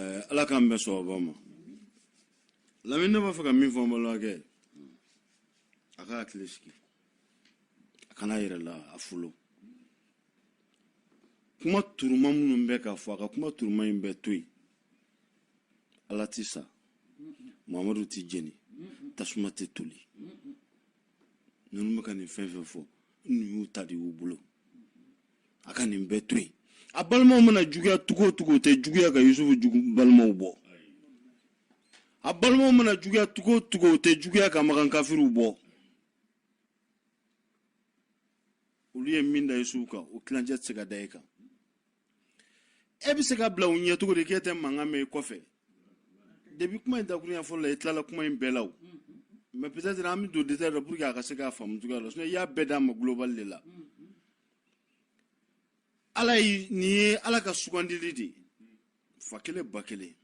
eh, ala k'an bɛɛ sɔgɔba ma lamini ne b'a fɛ ka min fɔ n balimakɛ a ka hakili sigi a kana yɛrɛ la a folo kuma turuma minnu bɛ ka fɔ a ka kuma turuma in bɛɛ to yen ala ti sa mamadu ti jeni tasuma tɛ toli ninnu bɛ ka nin fɛn fɛn fɔ n'u y'u ta de y'u bolo a ka nin bɛɛ to yen a balimaw mana juguya cogo o cogo o tɛ juguya ka yusufu jugu balimaw bɔ a balimaw mana juguya cogo o cogo o tɛ juguya ka makan kafiriw bɔ olu ye min da yusufu kan o tilancɛ tɛ se ka da e kan e bɛ se ka bila u ɲɛ cogo di k'e tɛ mankan mɛn i kɔfɛ depuis kuma in dakurunya fɔlɔ la i tilala kuma in bɛɛ la o mais peut-être an bɛ don détail la pour que a ka se k'a faamu cogoya la sinon i y'a bɛɛ d'a ma global de la ala yi nin ye ala ka sugandili de ye fa kelen ba kelen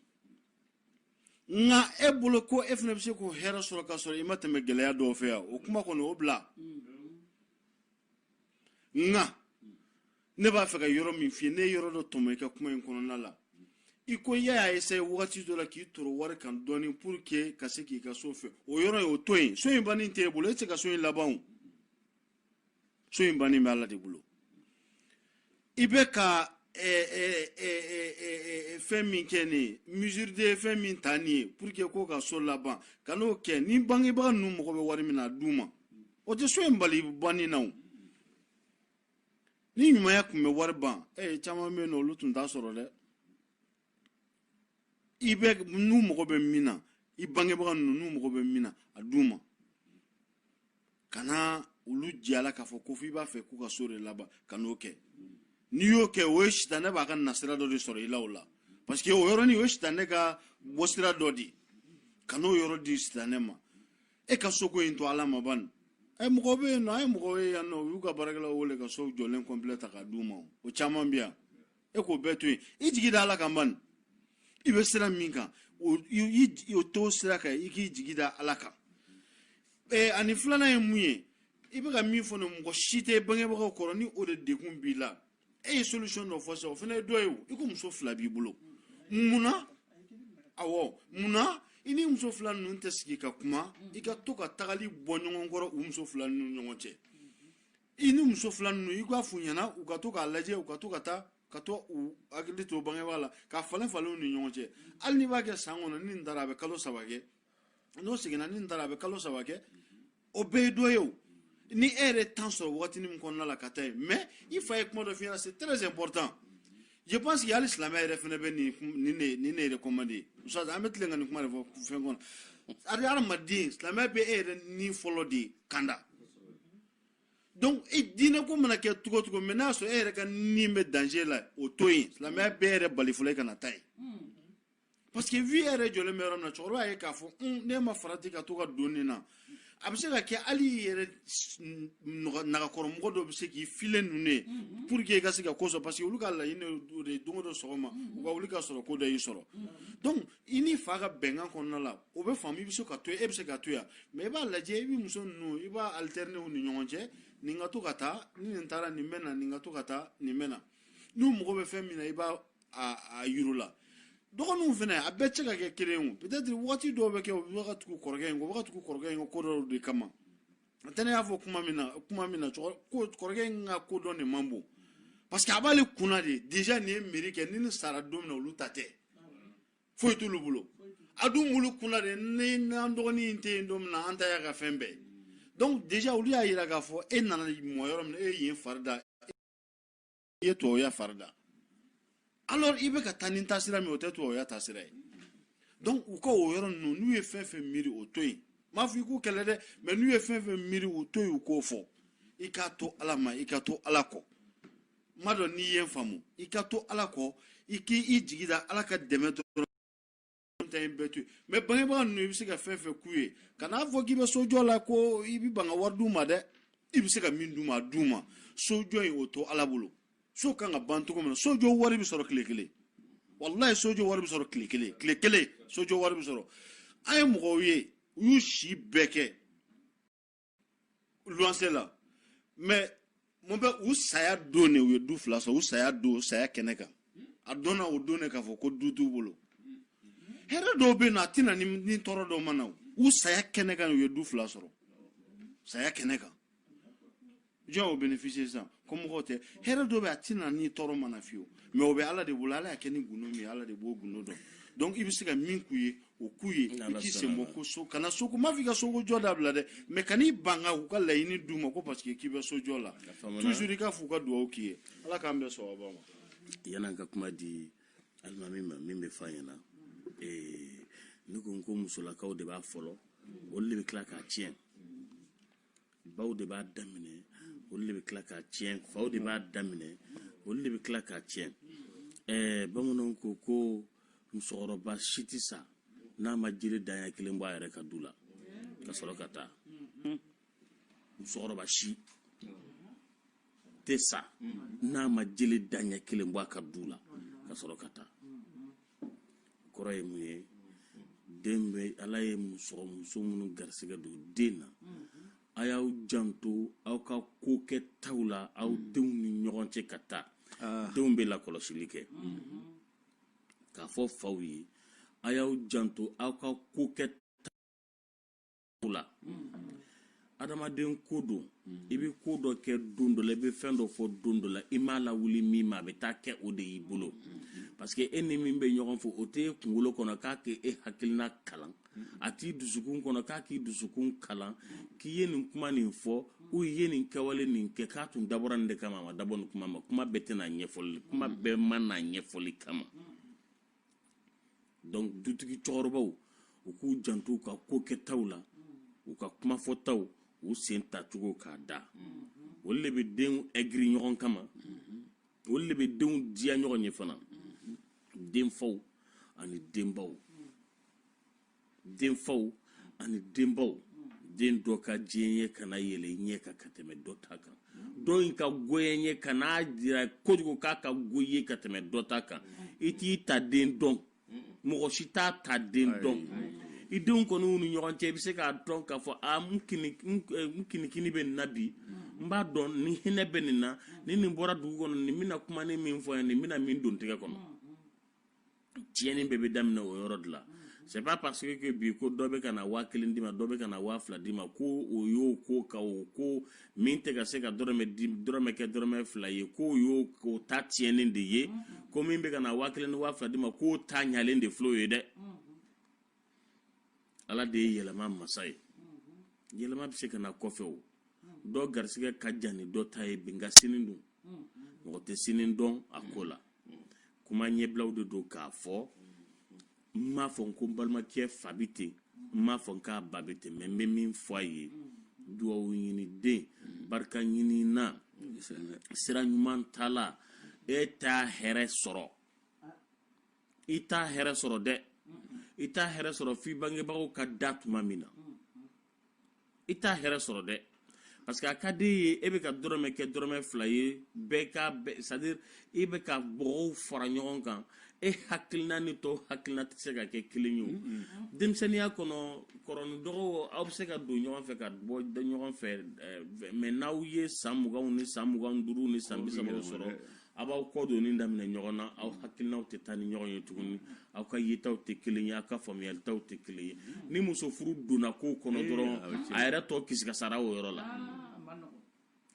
nka e bolo ko e fana bɛ se k'o hɛrɛ sɔrɔ ka sɔrɔ i ma tɛmɛ gɛlɛya dɔw fɛ yan o kuma kɔni o bila nka ne b'a fɛ ka yɔrɔ min f'i ye ne ye yɔrɔ dɔ tɔmɔ i ka kuma in kɔnɔna la i ko i y'a essaye wagati dɔ la k'i toro wari kan dɔɔni pour que ka se k'i ka so fɛ o yɔrɔ ye o to yen so in banni tɛ e bolo e tɛ se ka so in laban o so in banni bɛ ala de bolo i bɛ ka fɛn min kɛ ne ye mesure de fɛn min ta nin ye pour que ko ka so laban kan'o kɛ ni bangebaga ninnu mago bɛ wari min na a d'u ma o tɛ so in bali banni na o ni ɲumanya tun bɛ wari ban e caman bɛ yen nɔ olu tun t'a sɔrɔ dɛ i bɛ n'u mago bɛ min na i bangebaga ninnu n'u mago bɛ min na a d'u ma kana olu jiyala k'a fɔ ko fo i b'a fɛ k'u ka so de laban kan'o kɛ n'i y'o kɛ o ye sitanɛ b'a ka nasira dɔ de sɔrɔ i la o la parce que o yɔrɔnin o ye sitanɛ ka bɔsira dɔ de ye kan'o yɔrɔ di sitanɛ ma e ka soko in to ala ma bani ɛ mɔgɔ bɛ yen nɔ an ye mɔgɔw ye yan nɔ u y'u ka baarakɛlaw wele ka sow jɔlen complet ta k'a d'u ma o caman bɛ yan e k'o bɛɛ to yen i jigi da ala kan bani i bɛ sira min kan o to sira kan i k'i jigi da ala kan ee ani filanan ye mun ye i bɛ ka min fɔ ne mɔgɔ si tɛ bangebagaw kɔrɔ ni o de degun b'i la e ye solution dɔ fɔ sisan o fana ye dɔ ye o i ko muso fila b'i bolo mun na awɔ mun na i ni muso fila ninnu tɛ sigi ka kuma i ka to ka tagali bɔ ɲɔgɔn kɔrɔ u muso fila ninnu ɲɔgɔn cɛ i ni muso fila ninnu i k'a f'u ɲɛna u ka to k'a lajɛ u ka to ka taa ka to u hakili to bangebaa la k'a falen falen u ni ɲɔgɔn cɛ hali n'i b'a kɛ san kɔnɔ ni nin taara a bɛ kalo saba kɛ n'o seginna ni nin taara a bɛ kalo saba kɛ o bɛɛ ye dɔ ye o ni e yɛrɛ temps sɔrɔ wagatinin min kɔnɔna la ka taa yen mais i fa ye kuma dɔ f'i ɲɛna c'est très important je pense que hali silamɛya yɛrɛ fana bɛ nin nin ne nin ne recommandé ustaz an bɛ tilen ka nin kuma de fɔ fɛn kɔnɔ hali hadamaden silamɛya bɛ e yɛrɛ ni fɔlɔ de kanda donc i diinɛ ko mana kɛ cogo o cogo mais n'a sɔrɔ e yɛrɛ ka ni bɛ danger la o to yen silamɛya b'e yɛrɛ bali fɔlɔ e kana taa yen parce que vie yɛrɛ jɔlen bɛ yɔrɔ min na cɛkɔrɔba ye k'a fɔ ne ma farati ka to ka don nin na a bɛ se ka kɛ hali i yɛrɛ nagakɔrɔmɔgɔ dɔ bɛ se k'i fili ninnu ye pour que i ka se ka ko sɔrɔ parce que olu ka laɲini o de ye don o don sɔgɔma u ka wuli ka sɔrɔ ko dɔ y'i sɔrɔ donc i n'i fa ka bɛnkan kɔnɔna la o bɛ faamu i bɛ se ka to yen e bɛ se ka to yan mais i b'a lajɛ i bɛ muso ninnu i b'a alterner u ni ɲɔgɔn cɛ nin ka to ka taa ni nin taara nin bɛ na nin ka to ka taa nin bɛ na n'u mago bɛ fɛn min na i b'a yir'u la dɔgɔninw fana a bɛɛ cɛ ka kɛ kelen ye peut-être waati dɔw bɛ kɛ u bɛ ka tugu kɔrɔkɛ in kɔ u bɛ ka tugu kɔrɔkɛ in kɔ ko dɔw de kama n'o tɛ ne y'a fɔ kuma min na kuma min na kɔrɔkɛ in ka ko dɔn de man bon parce que a b'ale kunna de déjà nin ye mairie kɛ ni nin sara don min na olu ta tɛ foyi t'olu bolo a dun b'olu kunna de ni n'an dɔgɔnin in tɛ yen don min na an ta y'a ka fɛn bɛɛ ye donc déjà olu y'a yira k'a fɔ e nana mɔ yɔrɔ min na e ye yen fari da i ye tubabuya fari da alors i bɛ ka taa ni taasira min o tɛ tubabuya taasira ye donc u ka o yɔrɔ ninnu n'u ye fɛn fɛn miiri o to yen m'a fɔ i k'u kɛlɛ dɛ mais n'u ye fɛn fɛn miiri u to yen u k'o fɔ i k'a to ala ma i ka to ala kɔ m'a dɔn n'i ye n faamu i ka to ala kɔ i k'i jigi da ala ka dɛmɛ dɔrɔn ta in bɛɛ to yen mais bangebaga ninnu i bɛ se ka fɛn fɛn k'u ye kan'a fɔ k'i bɛ sojɔ la ko i bɛ ban ka wari d'u ma dɛ i bɛ se ka min d'u ma a d'u ma sojɔ in o to ala bolo so kan ka ban cogo min na sojɔ wari bɛ sɔrɔ tile kelen walayi sojɔ wari bɛ sɔrɔ tile kelen tile kelen sojɔ wari bɛ sɔrɔ an ye mɔgɔw ye u y'u si bɛɛ kɛ luwanse la mais mun bɛ u saya don ne u ye du fila sɔrɔ u saya don saya kɛnɛ kan a dɔnna o don ne k'a fɔ ko du t'u bolo hɛrɛ dɔw bɛ na a tɛ na ni tɔɔrɔ dɔw ma na u saya kɛnɛ kan u ye du fila sɔrɔ saya kɛnɛ kan jɔn o bénéficier sisan kɔmɔgɔw tɛ hɛrɛ dɔ bɛ a ti na ni tɔɔrɔ ma na fiyewu mais o bɛ ala de bolo ala y'a kɛ ni gundo min ye ala de b'o gundo dɔn donc i bɛ se ka min k'u ye o k'u ye i k'i sen bɔ ko so kana so ko m'a fɔ i ka soko jɔ dabila dɛ mais kan'i ban ka u ka laɲini d'u ma ko parce que k'i bɛ so jɔ la toujours i k'a f'u ka dugawu k'i ye ala k'an bɛɛ sɔrɔba ma yan'an ka kuma di alimami ma min bɛ f'a ɲɛna eh, ne ko n ko musolakaw de b'a fɔlɔ olu de bɛ tila k'a tiɲɛ baw de b'a daminɛ olu de bɛ tila k'a tiɲɛ baw de b'a daminɛ olu de bɛ tila k'a tiɲɛ ɛɛ bamananw ko ko musokɔrɔba si tɛ sa n'a ma jiri danya kelen bɔ a yɛrɛ ka du la ka sɔrɔ ka taa musokɔrɔba si tɛ sa n'a ma jeli daɲɛ kelen bɔ a ka du la ka sɔrɔ ka taa kɔrɔ ye mun ye denbaw ala ye muso muso minnu garisigɛ don den na a y'aw janto aw ka ko kɛtaw la aw denw ni ɲɔgɔn cɛ ka taa ah. denw bɛ lakɔlɔsili kɛ k'a fɔ faw ye a y'aw janto aw ka ko kɛ la adamaden ko don i bɛ ko dɔ kɛ don dɔ la i bɛ fɛn dɔ fɔ don dɔ la i m'a lawuli min ma a bɛ taa kɛ o de y'i bolo parce que e ni min bɛ ɲɔgɔn fɛ o t'e kunkolo kɔnɔ k'a k'e e hakilina kalan a t'i dusukun kɔnɔ k'a k'i dusukun kalan k'i ye nin kuma nin fɔ ou i ye nin kɛwale nin kɛ k'a tun dabɔra nin de kama a ma dabɔ nin kuma ma kuma bɛɛ tɛ na ɲɛfɔli kuma bɛɛ ma na ɲɛfɔli kama donc dutigi cɛkɔrɔbaw u k'u janto u ka ko kɛtaw la u ka kuma fɔtaw u sen tacogo k'a da olu de bɛ denw aigri ɲɔgɔn kama olu de bɛ denw diya ɲɔgɔn ye fana denfaw ani denbaw denfaw ani denbaw den dɔ ka diyanye kana yɛlɛ i ɲɛ kan ka tɛmɛ dɔ ta kan dɔ in ka goyanye kan'a jira kojugu k'a ka go i ye ka tɛmɛ dɔ ta kan i t'i ta den dɔn mɔgɔ si t'a ta den dɔn i denw kɔni ni ɲɔgɔn cɛ i bɛ se k'a dɔn k'a fɔ a n kinikini bɛ nin na bi n b'a dɔn n hinɛ bɛ nin na ni nin bɔra dugu kɔnɔ nin bɛna kuma ni min fɔ yan nin bɛna min don n tɛgɛ kɔnɔ tiɲɛni bɛɛ bɛ daminɛ o yɔrɔ de la c'est pas parce que bi ko dɔ bɛ ka na waa kelen d'i ma dɔ bɛ ka na waa fila d'i ma ko o y'o ko ka o ko min tɛ ka se ka dɔrɔmɛ di dɔrɔmɛ kɛ dɔrɔmɛ fila ye k'o y'o o ta tiɲɛnen de ye ko min bɛ ka na waa kelen ni waa fila d'i ma k'o ta ɲalen de filɛ o ye dɛ ala de ye yɛlɛma masa ye yɛlɛma bɛ se ka na kɔfɛ o dɔ garisɛgɛ ka jan ni dɔ ta ye bi nka sini dun mɔgɔ tɛ sini dɔn a ko la kuma ɲɛbilaw de don k'a fɔ n m'a fɔ n ko n balimakɛ fa bɛ ten n m'a fɔ n k'a ba bɛ ten mais n bɛ min fɔ a ye duwawu ɲini den barika ɲinina sira ɲuman tala e t'a hɛrɛ sɔrɔ i t'a hɛrɛ sɔrɔ dɛ i t'a hɛrɛ sɔrɔ f'i bangebagaw ka da tuma min na i t'a hɛrɛ sɔrɔ dɛ parce que a ka di i ye e bɛ ka dɔrɔmɛ kɛ dɔrɔmɛ fila ye bɛɛ ka c'est à dire e bɛ ka bɔgɔw fara ɲɔgɔn kan e hakilina ni tɔw hakilina tɛ se ka kɛ kelen ye o denmisɛnninya kɔnɔ kɔrɔ ni dɔgɔ aw bɛ se ka don ɲɔgɔn fɛ ka bɔ ɲɔgɔn fɛ mais n'aw ye san muganw ni san mugan ni duuru ni san bi saba sɔrɔ a b'aw kɔ donni daminɛ ɲɔgɔn na aw hakilinaw tɛ taa ni ɲɔgɔn ye tuguni aw ka yetaw tɛ kelen ye aw ka faamuyalitaw tɛ kelen ye ni muso furu donna ko kɔnɔ dɔrɔn a yɛrɛ tɔ kisikasara o yɔrɔ la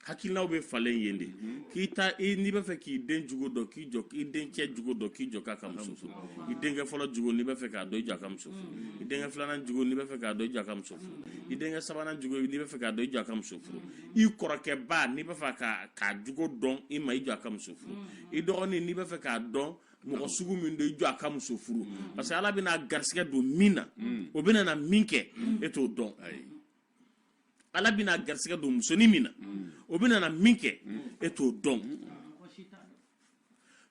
hakilinaw bɛ falen yen de k'i ta n'i b'a fɛ k'i den jogo dɔn k'i jɔ i den cɛ jogo dɔn k'i jɔ k'a ka muso furu i denkɛ fɔlɔ jogo n'i b'a fɛ k'a dɔn i jɔ a ka muso furu i denkɛ filanan jogo n'i b'a fɛ k'a dɔn i jɔ a ka muso furu i denkɛ sabanan jogo n'i b'a fɛ k'a dɔn i jɔ a ka muso furu i kɔrɔkɛba n'i b'a fɛ k'a jogo dɔn i ma i jɔ a ka muso furu i dɔgɔnin n'i b'a fɛ k'a dɔn mɔgɔ sugu min don i jɔ a ka muso furu parce que ala bɛna garisɛgɛ don min na o bɛna na min kɛ e t'o dɔn ala bɛna garisɛgɛ don musonin min na o bɛna na min kɛ e t'o dɔn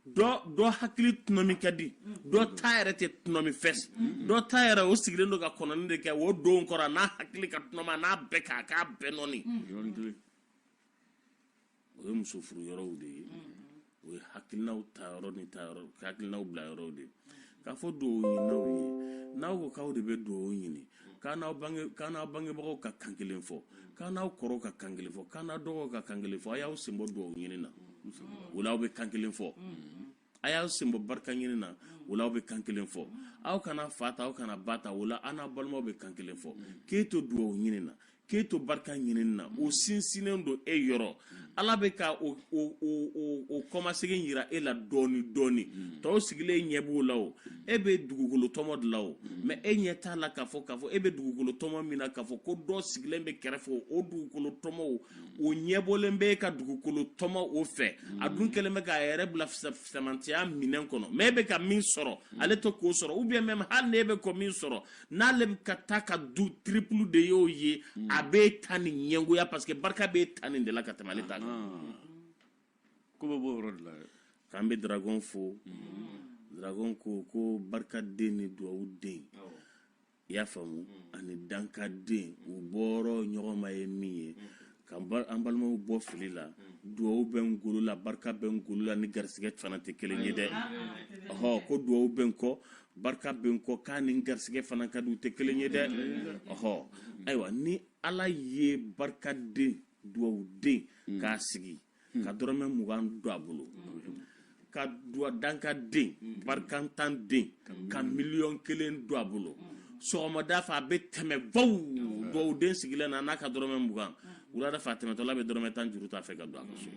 dɔ hakili tunɔmi ka di dɔ ta yɛrɛ tɛ tunɔmi fɛs dɔ ta yɛrɛ o sigilen don ka kɔnɔni de kɛ o don kɔrɔ n'a hakili ka tunɔma n'a bɛɛ k'a k'a bɛɛ nɔni o ye muso furu yɔrɔw de ye o ye hakilinaw ta yɔrɔ ni ta yɔrɔ hakilinaw bila yɔrɔw de ye K'a fɔ dugawu ɲininaw ye n'aw ko k'aw de bɛ dugawu ɲini k'aw n'aw bange k'aw n'aw bangebagaw ka kan kelen fɔ k'aw n'aw kɔrɔw ka kan kelen fɔ k'aw n'aw dɔgɔw ka kan kelen fɔ a y'aw sen bɔ dugawu ɲini na o la aw bɛ kan kelen fɔ a y'aw sen bɔ barika ɲini na o la aw bɛ kan kelen fɔ aw kana fa ta aw kana ba ta o la aw n'aw balimaw bɛ kan kelen fɔ k'e to dugawu ɲini na k'e to barika ɲini na o sinsinnen don e yɔrɔ ala bɛ ka o kɔmasegin yira e la dɔɔni dɔɔni tɔw sigilen ɲɛ b'o la o e bɛ dugukolo tɔmɔ de la o mais e ɲɛ t'a la k'a fɔ k'a fɔ e bɛ dugukolo tɔmɔ min na k'a fɔ ko dɔ sigilen bɛ kɛrɛfɛ o dugukolo tɔmɔ o ɲɛbɔlen bɛ e ka dugukolo tɔmɔ o fɛ a dun kɛlen bɛ k'a yɛrɛ bila fisamantiya minɛn kɔnɔ mais e bɛ ka min sɔrɔ ale tɛ k'o sɔrɔ ou bien même hali n'e bɛ ko min sɔrɔ n'ale bɛ ka ta ka dun triple de y'o ye a b'e tanin ɲɛngoya parce que barika b'e tanin de la ka tɛmɛ ale ta kan ko bɛ bɔ o yɔrɔ de la k'an bɛ dragon fo dragon ko ko barika den ni duwawu den i y'a faamu ani dankaden u bɔyɔrɔ ɲɔgɔn ma ye min ye Ka an balimaw bɔ fili la dugawu bɛ n golo la barika bɛ n golo la ni garisɛgɛ fana tɛ kelen ye dɛ ɔɔ ko dugawu bɛ n kɔ barika bɛ n kɔ k'a ni garisɛgɛ fana ka di u tɛ kelen ye dɛ ɔɔ ayiwa ni ala ye barikaden dugawuden k'a sigi ka dɔrɔmɛ mugan don a bolo ka dankaden barikantanden ka miliyɔn kelen don a bolo sɔgɔmada fɛ a bɛ tɛmɛ baw dugawuden sigilen na n'a ka dɔrɔmɛ mugan wulada fɛ a tɛmɛtɔla bɛ dɔrɔmɛ tan juru ta a fɛ ka don a ka so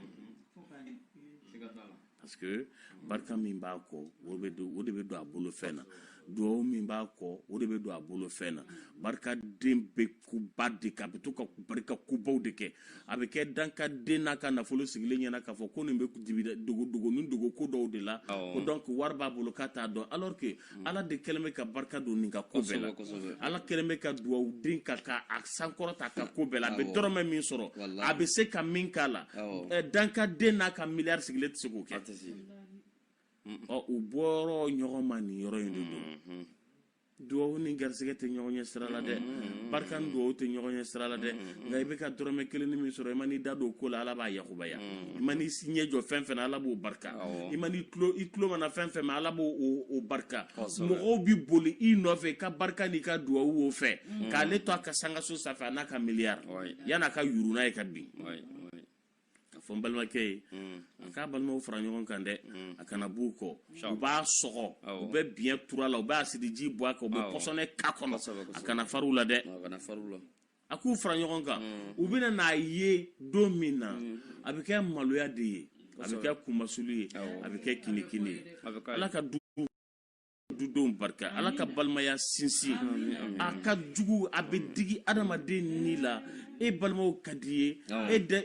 parce que barika min b'a kɔ o de bɛ don a bolo fɛn na duwawu min b'a kɔ o de bɛ don a bolo fɛn na barikaden bɛ kuba de kɛ a bɛ to ka barika kubaw de kɛ a bɛ kɛ dankaden n'a ka nafolo sigilen ɲɛ na k'a fɔ ko nin bɛ dibi dogo dogo ni dogo ko dɔw de la ko donc wari b'a bolo k'a t'a dɔn alors que ala de kɛlen bɛ ka barika don nin ka ko bɛɛ la ala kɛlen bɛ ka dugawuden ka a sankɔrɔta a ka ko bɛɛ la a bɛ dɔrɔmɛ min sɔrɔ a bɛ se ka min k'a la dankaden n'a ka miliyari sigilen tɛ se k'o kɛ u bɔyɔrɔ ɲɔgɔn ma nin yɔrɔ in de don mm-hmm. dugawu ni garisɛgɛ tɛ ɲɔgɔn ɲɛ sira la dɛ mm-hmm. Mm-hmm. barika ni dugawu tɛ ɲɔgɔn ɲɛ sira la dɛ nka i bɛ ka dɔrɔmɛ kelen ni min sɔrɔ i ma n'i da don ko la ala b'a yakubaya i ma n'i ɲɛ jɔ fɛn fɛn na ala b'o barika i ma n'i tulo mana fɛn fɛn mɛn ala b'o barika mɔgɔw bɛ boli i nɔfɛ i ka barika n'i ka duwawu o fɛ mm. k'ale to a ka sankanso sanfɛ n'a ka miliyari an'a ka yuru n'a ye ka bin ka fɔ n balimakɛ ye mm. a k'a balimaw fara ɲɔgɔn kan dɛ mm. a kana b'u kɔ u b'a sɔgɔ u bɛ biɲɛ turu a la u bɛ asidi ji bɔn a kan u bɛ pɔsɔni k'a kɔnɔ a kana fara u la dɛ a k'u fara ɲɔgɔn kan mm. u bɛna n'a ye don min na mm. a bɛ kɛ maloya de ye a bɛ kɛ kunmasulu ye a bɛ kɛ kinikini ye ala ka du dudenw barika ala ka balimaya sinsin a ka jugu a bɛ digi adamaden ni la e balimaw ka d'i ye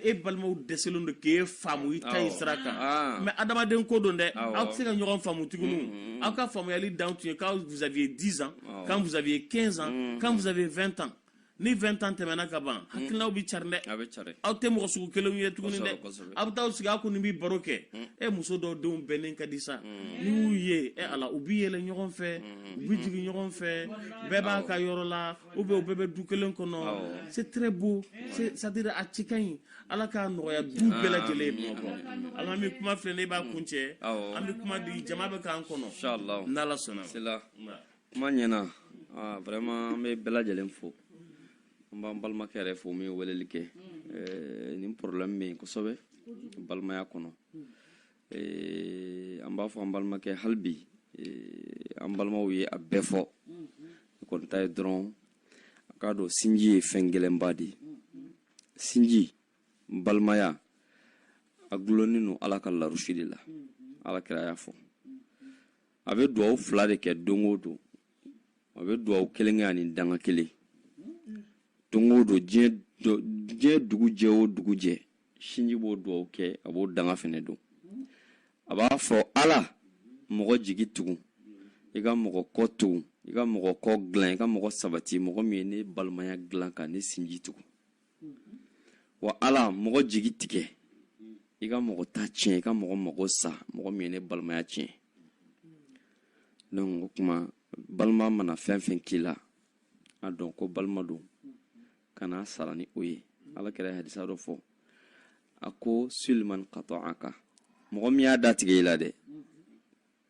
e balimaw dɛsɛlen don k'e faamu i taasira kan ah. mais adamaden ko don dɛ aw tɛ se ka ɲɔgɔn faamu tuguni mm, mm, mm. aw ka faamuyali dan tun ye quand vous aviez 10 ans quand vous aviez 15 ans quand vous aviez 20 ans ni 20 ans tɛmɛna ka ban hakilinaw bɛ cari dɛ a bɛ cari aw tɛ mɔgɔ sugu kelenw ye tuguni dɛ aw bɛ taa sigi aw kɔni bɛ baro kɛ e muso dɔw denw bɛnnen ka di sa n'i y'u ye e ala u bɛ yɛlɛ ɲɔgɔn fɛ u bɛ jigin ɲɔgɔn fɛ bɛɛ b'a ka yɔrɔ la ou bien u bɛɛ bɛ du kelen kɔnɔ c'est très beau c'est à dire a cɛ ka ɲi ala k'a nɔgɔya du bɛɛ lajɛlen ye bamakɔ ala bɛ kuma filɛ ne b'a kuncɛ an bɛ kuma di jama bɛ k'an kɔnɔ n'ala sɔnna kuma ɲɛna ah, vraiment an bɛ bɛɛ lajɛlen fo an b'an balimakɛ yɛrɛ fo min ye weleli kɛ eh, nin problème bɛ yen kosɛbɛ balimaya kɔnɔ eh, an b'a fɔ an balimakɛ hali bi eh, an balimaw y'a bɛɛ fɔ ne kɔni ta ye dɔrɔn a k'a dɔn sinji ye fɛn gɛlɛnba de ye sinji balimaya a gulonnin don ala ka larusi de la ala kira y'a fɔ a bɛ dugawu fila de kɛ don o don a bɛ dugawu kelen kɛ ani danga kelen don o don diɲɛ dugu jɛ o dugu jɛ sinji b'o dugawu kɛ a b'o danga fɛnɛ don a b'a fɔ ala mɔgɔ jigi tugu i ka mɔgɔ kɔ tugu i ka mɔgɔ kɔ dilan i ka mɔgɔ sabati mɔgɔ min ye ne balimaya dilan ka ne sinji tugu wa ala mɔgɔ jigi tigɛ i ka mɔgɔ ta tiɲɛ i ka mɔgɔ mago sa mɔgɔ min ye ne balimaya tiɲɛ donc o kuma balima mana fɛn fɛn k'i la a dɔn ko balima don kana sara ni o ye ala kira ye hadisa dɔ fɔ a ko sil man kata'aka mɔgɔ min y'a datigɛ i la dɛ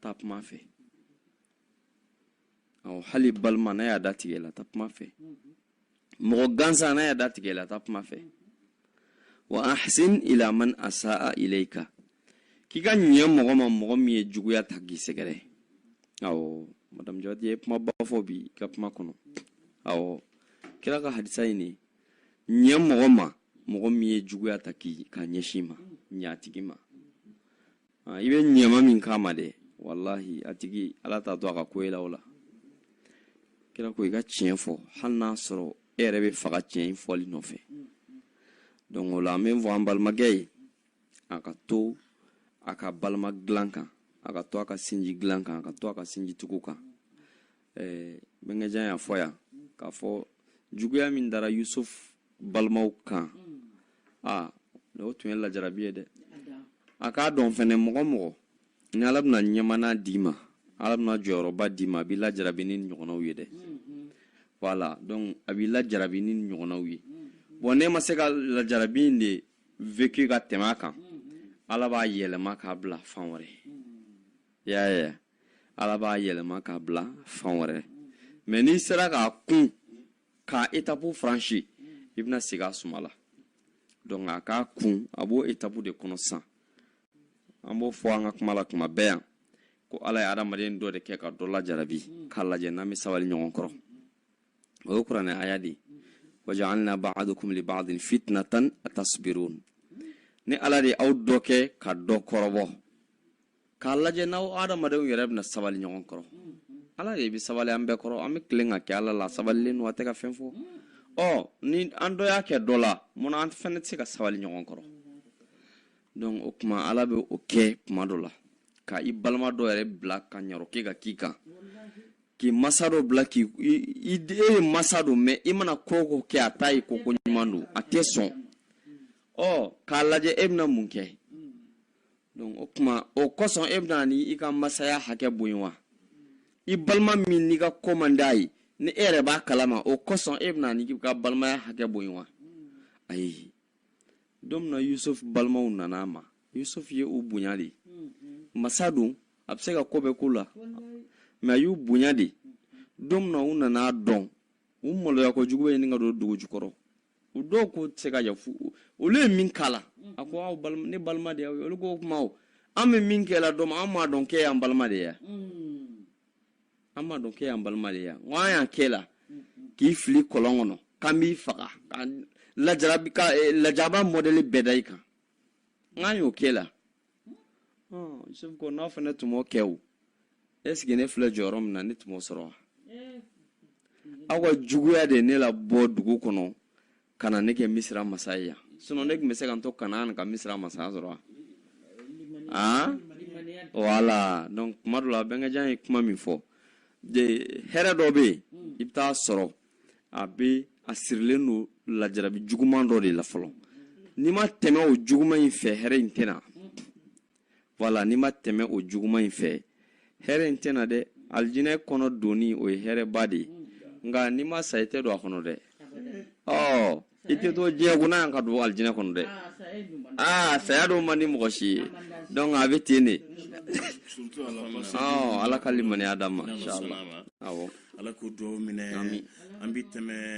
taa kuma fɛ awɔ hali balima n'a y'a datigɛ i la taa kuma fɛ mɔgɔ gansan n'a y'a datigɛ i la taa kuma fɛ wa ahsin ila man asaa ilayka k'i ka ɲɛ mɔgɔ ma mɔgɔ min ye juguya ta k'i sɛgɛrɛ awɔ madamu jawati ye kumaba fɔ bi i ka kuma kɔnɔ awɔ kira ka hadisa in ɲɛ mɔgɔ ma mɔgɔ min ye juguya ta k'i ka ɲɛsin i ma ɲ'a tigi ma ah, i bɛ ɲɛma min k'a ma dɛ walahi a tigi ala t'a to a ka ko la o la kira ko i ka tiɲɛ fɔ hali n'a sɔrɔ e yɛrɛ bɛ faga tiɲɛ in fɔli nɔfɛ donc o la an b'a fɔ an balimakɛ ye a ka to a ka balima dilan kan a ka to a ka sinji dilan kan a ka to a ka sinji tugu kan eh, bɛnkɛjan y'a fɔ yan k'a fɔ juguya min dara yusuf balimaw kan mm. a o tun ye lajarabi ye dɛ a k'a dɔn fɛnɛ mɔgɔ mɔgɔ ni ala bɛna ɲɛmaaya d'i ma ala bɛna jɔyɔrɔba d'i ma a b'i lajarabi ni ɲɔgɔnnaw ye dɛ mm-hmm. voilà donc a b'i lajarabi ni ɲɔgɔnnaw ye mm-hmm. bon n'e ma se ka lajarabi in de vécu ka tɛmɛ a kan mm-hmm. ala b'a yɛlɛma k'a bila fan wɛrɛ y'a ye ala b'a yɛlɛma k'a bila fan wɛrɛ mais n'i sera k'a kun ka étape franchi i bɛna sigi a suma la donc a k'a kun a b'o étape de kɔnɔ sisan an b'o fɔ an ka kuma la tuma bɛɛ yan ko ala ye adamaden dɔ de kɛ ka dɔ lajarabi k'a lajɛ n'an bɛ sabali ɲɔgɔn kɔrɔ o ye kuranɛ aya de ye wa ja'alna ba'dakum li ba'din fitnatan atasbirun ne ala de ye aw dɔ kɛ ka dɔ kɔrɔbɔ k'a lajɛ n'aw adamadenw yɛrɛ bɛna sabali ɲɔgɔn kɔrɔ ala de bɛ sabali an bɛɛ kɔrɔ an bɛ tilen k'a kɛ ala la sabalilen don a tɛ ka fɛn fɔ ɔ ni an dɔ y'a kɛ dɔ la munna an fana tɛ se ka sabali ɲɔgɔn kɔrɔ donc o tuma ala bɛ o kɛ tuma dɔ la ka i balima dɔ yɛrɛ bila ka ɲarɔke ka k'i kan k'i masa dɔ bila k'i e yɛrɛ masa don mais i mana ko o ko kɛ a t'a ye ko ko ɲuman don a tɛ sɔn ɔ k'a lajɛ e bɛna mun kɛ donc o tuma o kosɔn e bɛna nin ka masaya hakɛ bɔn yen wa i balima min n'i ka ko man d'a ye ni e yɛrɛ b'a kalama o kosɔn e bɛna nin ka balimaya hakɛ bɔn yen wa ayi don min na yusuf balimaw nana a ma yusuf ye u bonya de masa don a bɛ se ka ko bɛɛ k'u la mais a y'u bonya de don min na u nana a dɔn u maloya kojugu bɛ ɲini ka don dugu jukɔrɔ u dɔw ko tɛ se ka yafu olu ye min k'a la a ko aw balima ne balima de y'aw ye olu ko o kuma o an bɛ min kɛ la dɔ ma an m'a dɔn k'e y'an balima de ye wa an m'a dɔn k'e y'an balima de ye wa n ko an y'a k'e la k'i fili kɔlɔn kɔnɔ k'an b'i faga ka lajarabi ka eh, lajaba mɔdɛli bɛɛ da i kan n k'an y'o k'e la yusufu ko n'aw fana tun m'o kɛ o est-ce que ne filɛ jɔyɔrɔ min na ne tun m'o sɔrɔ wa aw ka juguya de ne labɔ dugu kɔnɔ ka na ne kɛ misira masa ye yan sinon ne tun bɛ se ka n to kanaan ka misira masaya sɔrɔ wa aa voilà donc kuma dɔ la bɛnkɛjan ye kuma min fɔ de hɛrɛ dɔ bɛ yen i bɛ taa sɔrɔ a bɛ a sirilen don lajarabi juguman dɔ de la fɔlɔ n'i ma tɛmɛ o juguman in fɛ hɛrɛ in tɛ na voilà n'i ma tɛmɛ o juguman in fɛ hɛrɛ in tɛ na dɛ alijinɛ kɔnɔ donni o ye hɛrɛba de ye nka n'i ma sa i tɛ don a kɔnɔ dɛ ɔ i tɛ to diɲɛ kɔnɔ yan ka don alijinɛ kɔnɔ dɛ aa saya dun man di mɔgɔ si ye donc a bɛ ten de ala ka limaniya d'an ma inchallah awɔ ala k'o dugawu minɛ an bɛ tɛmɛ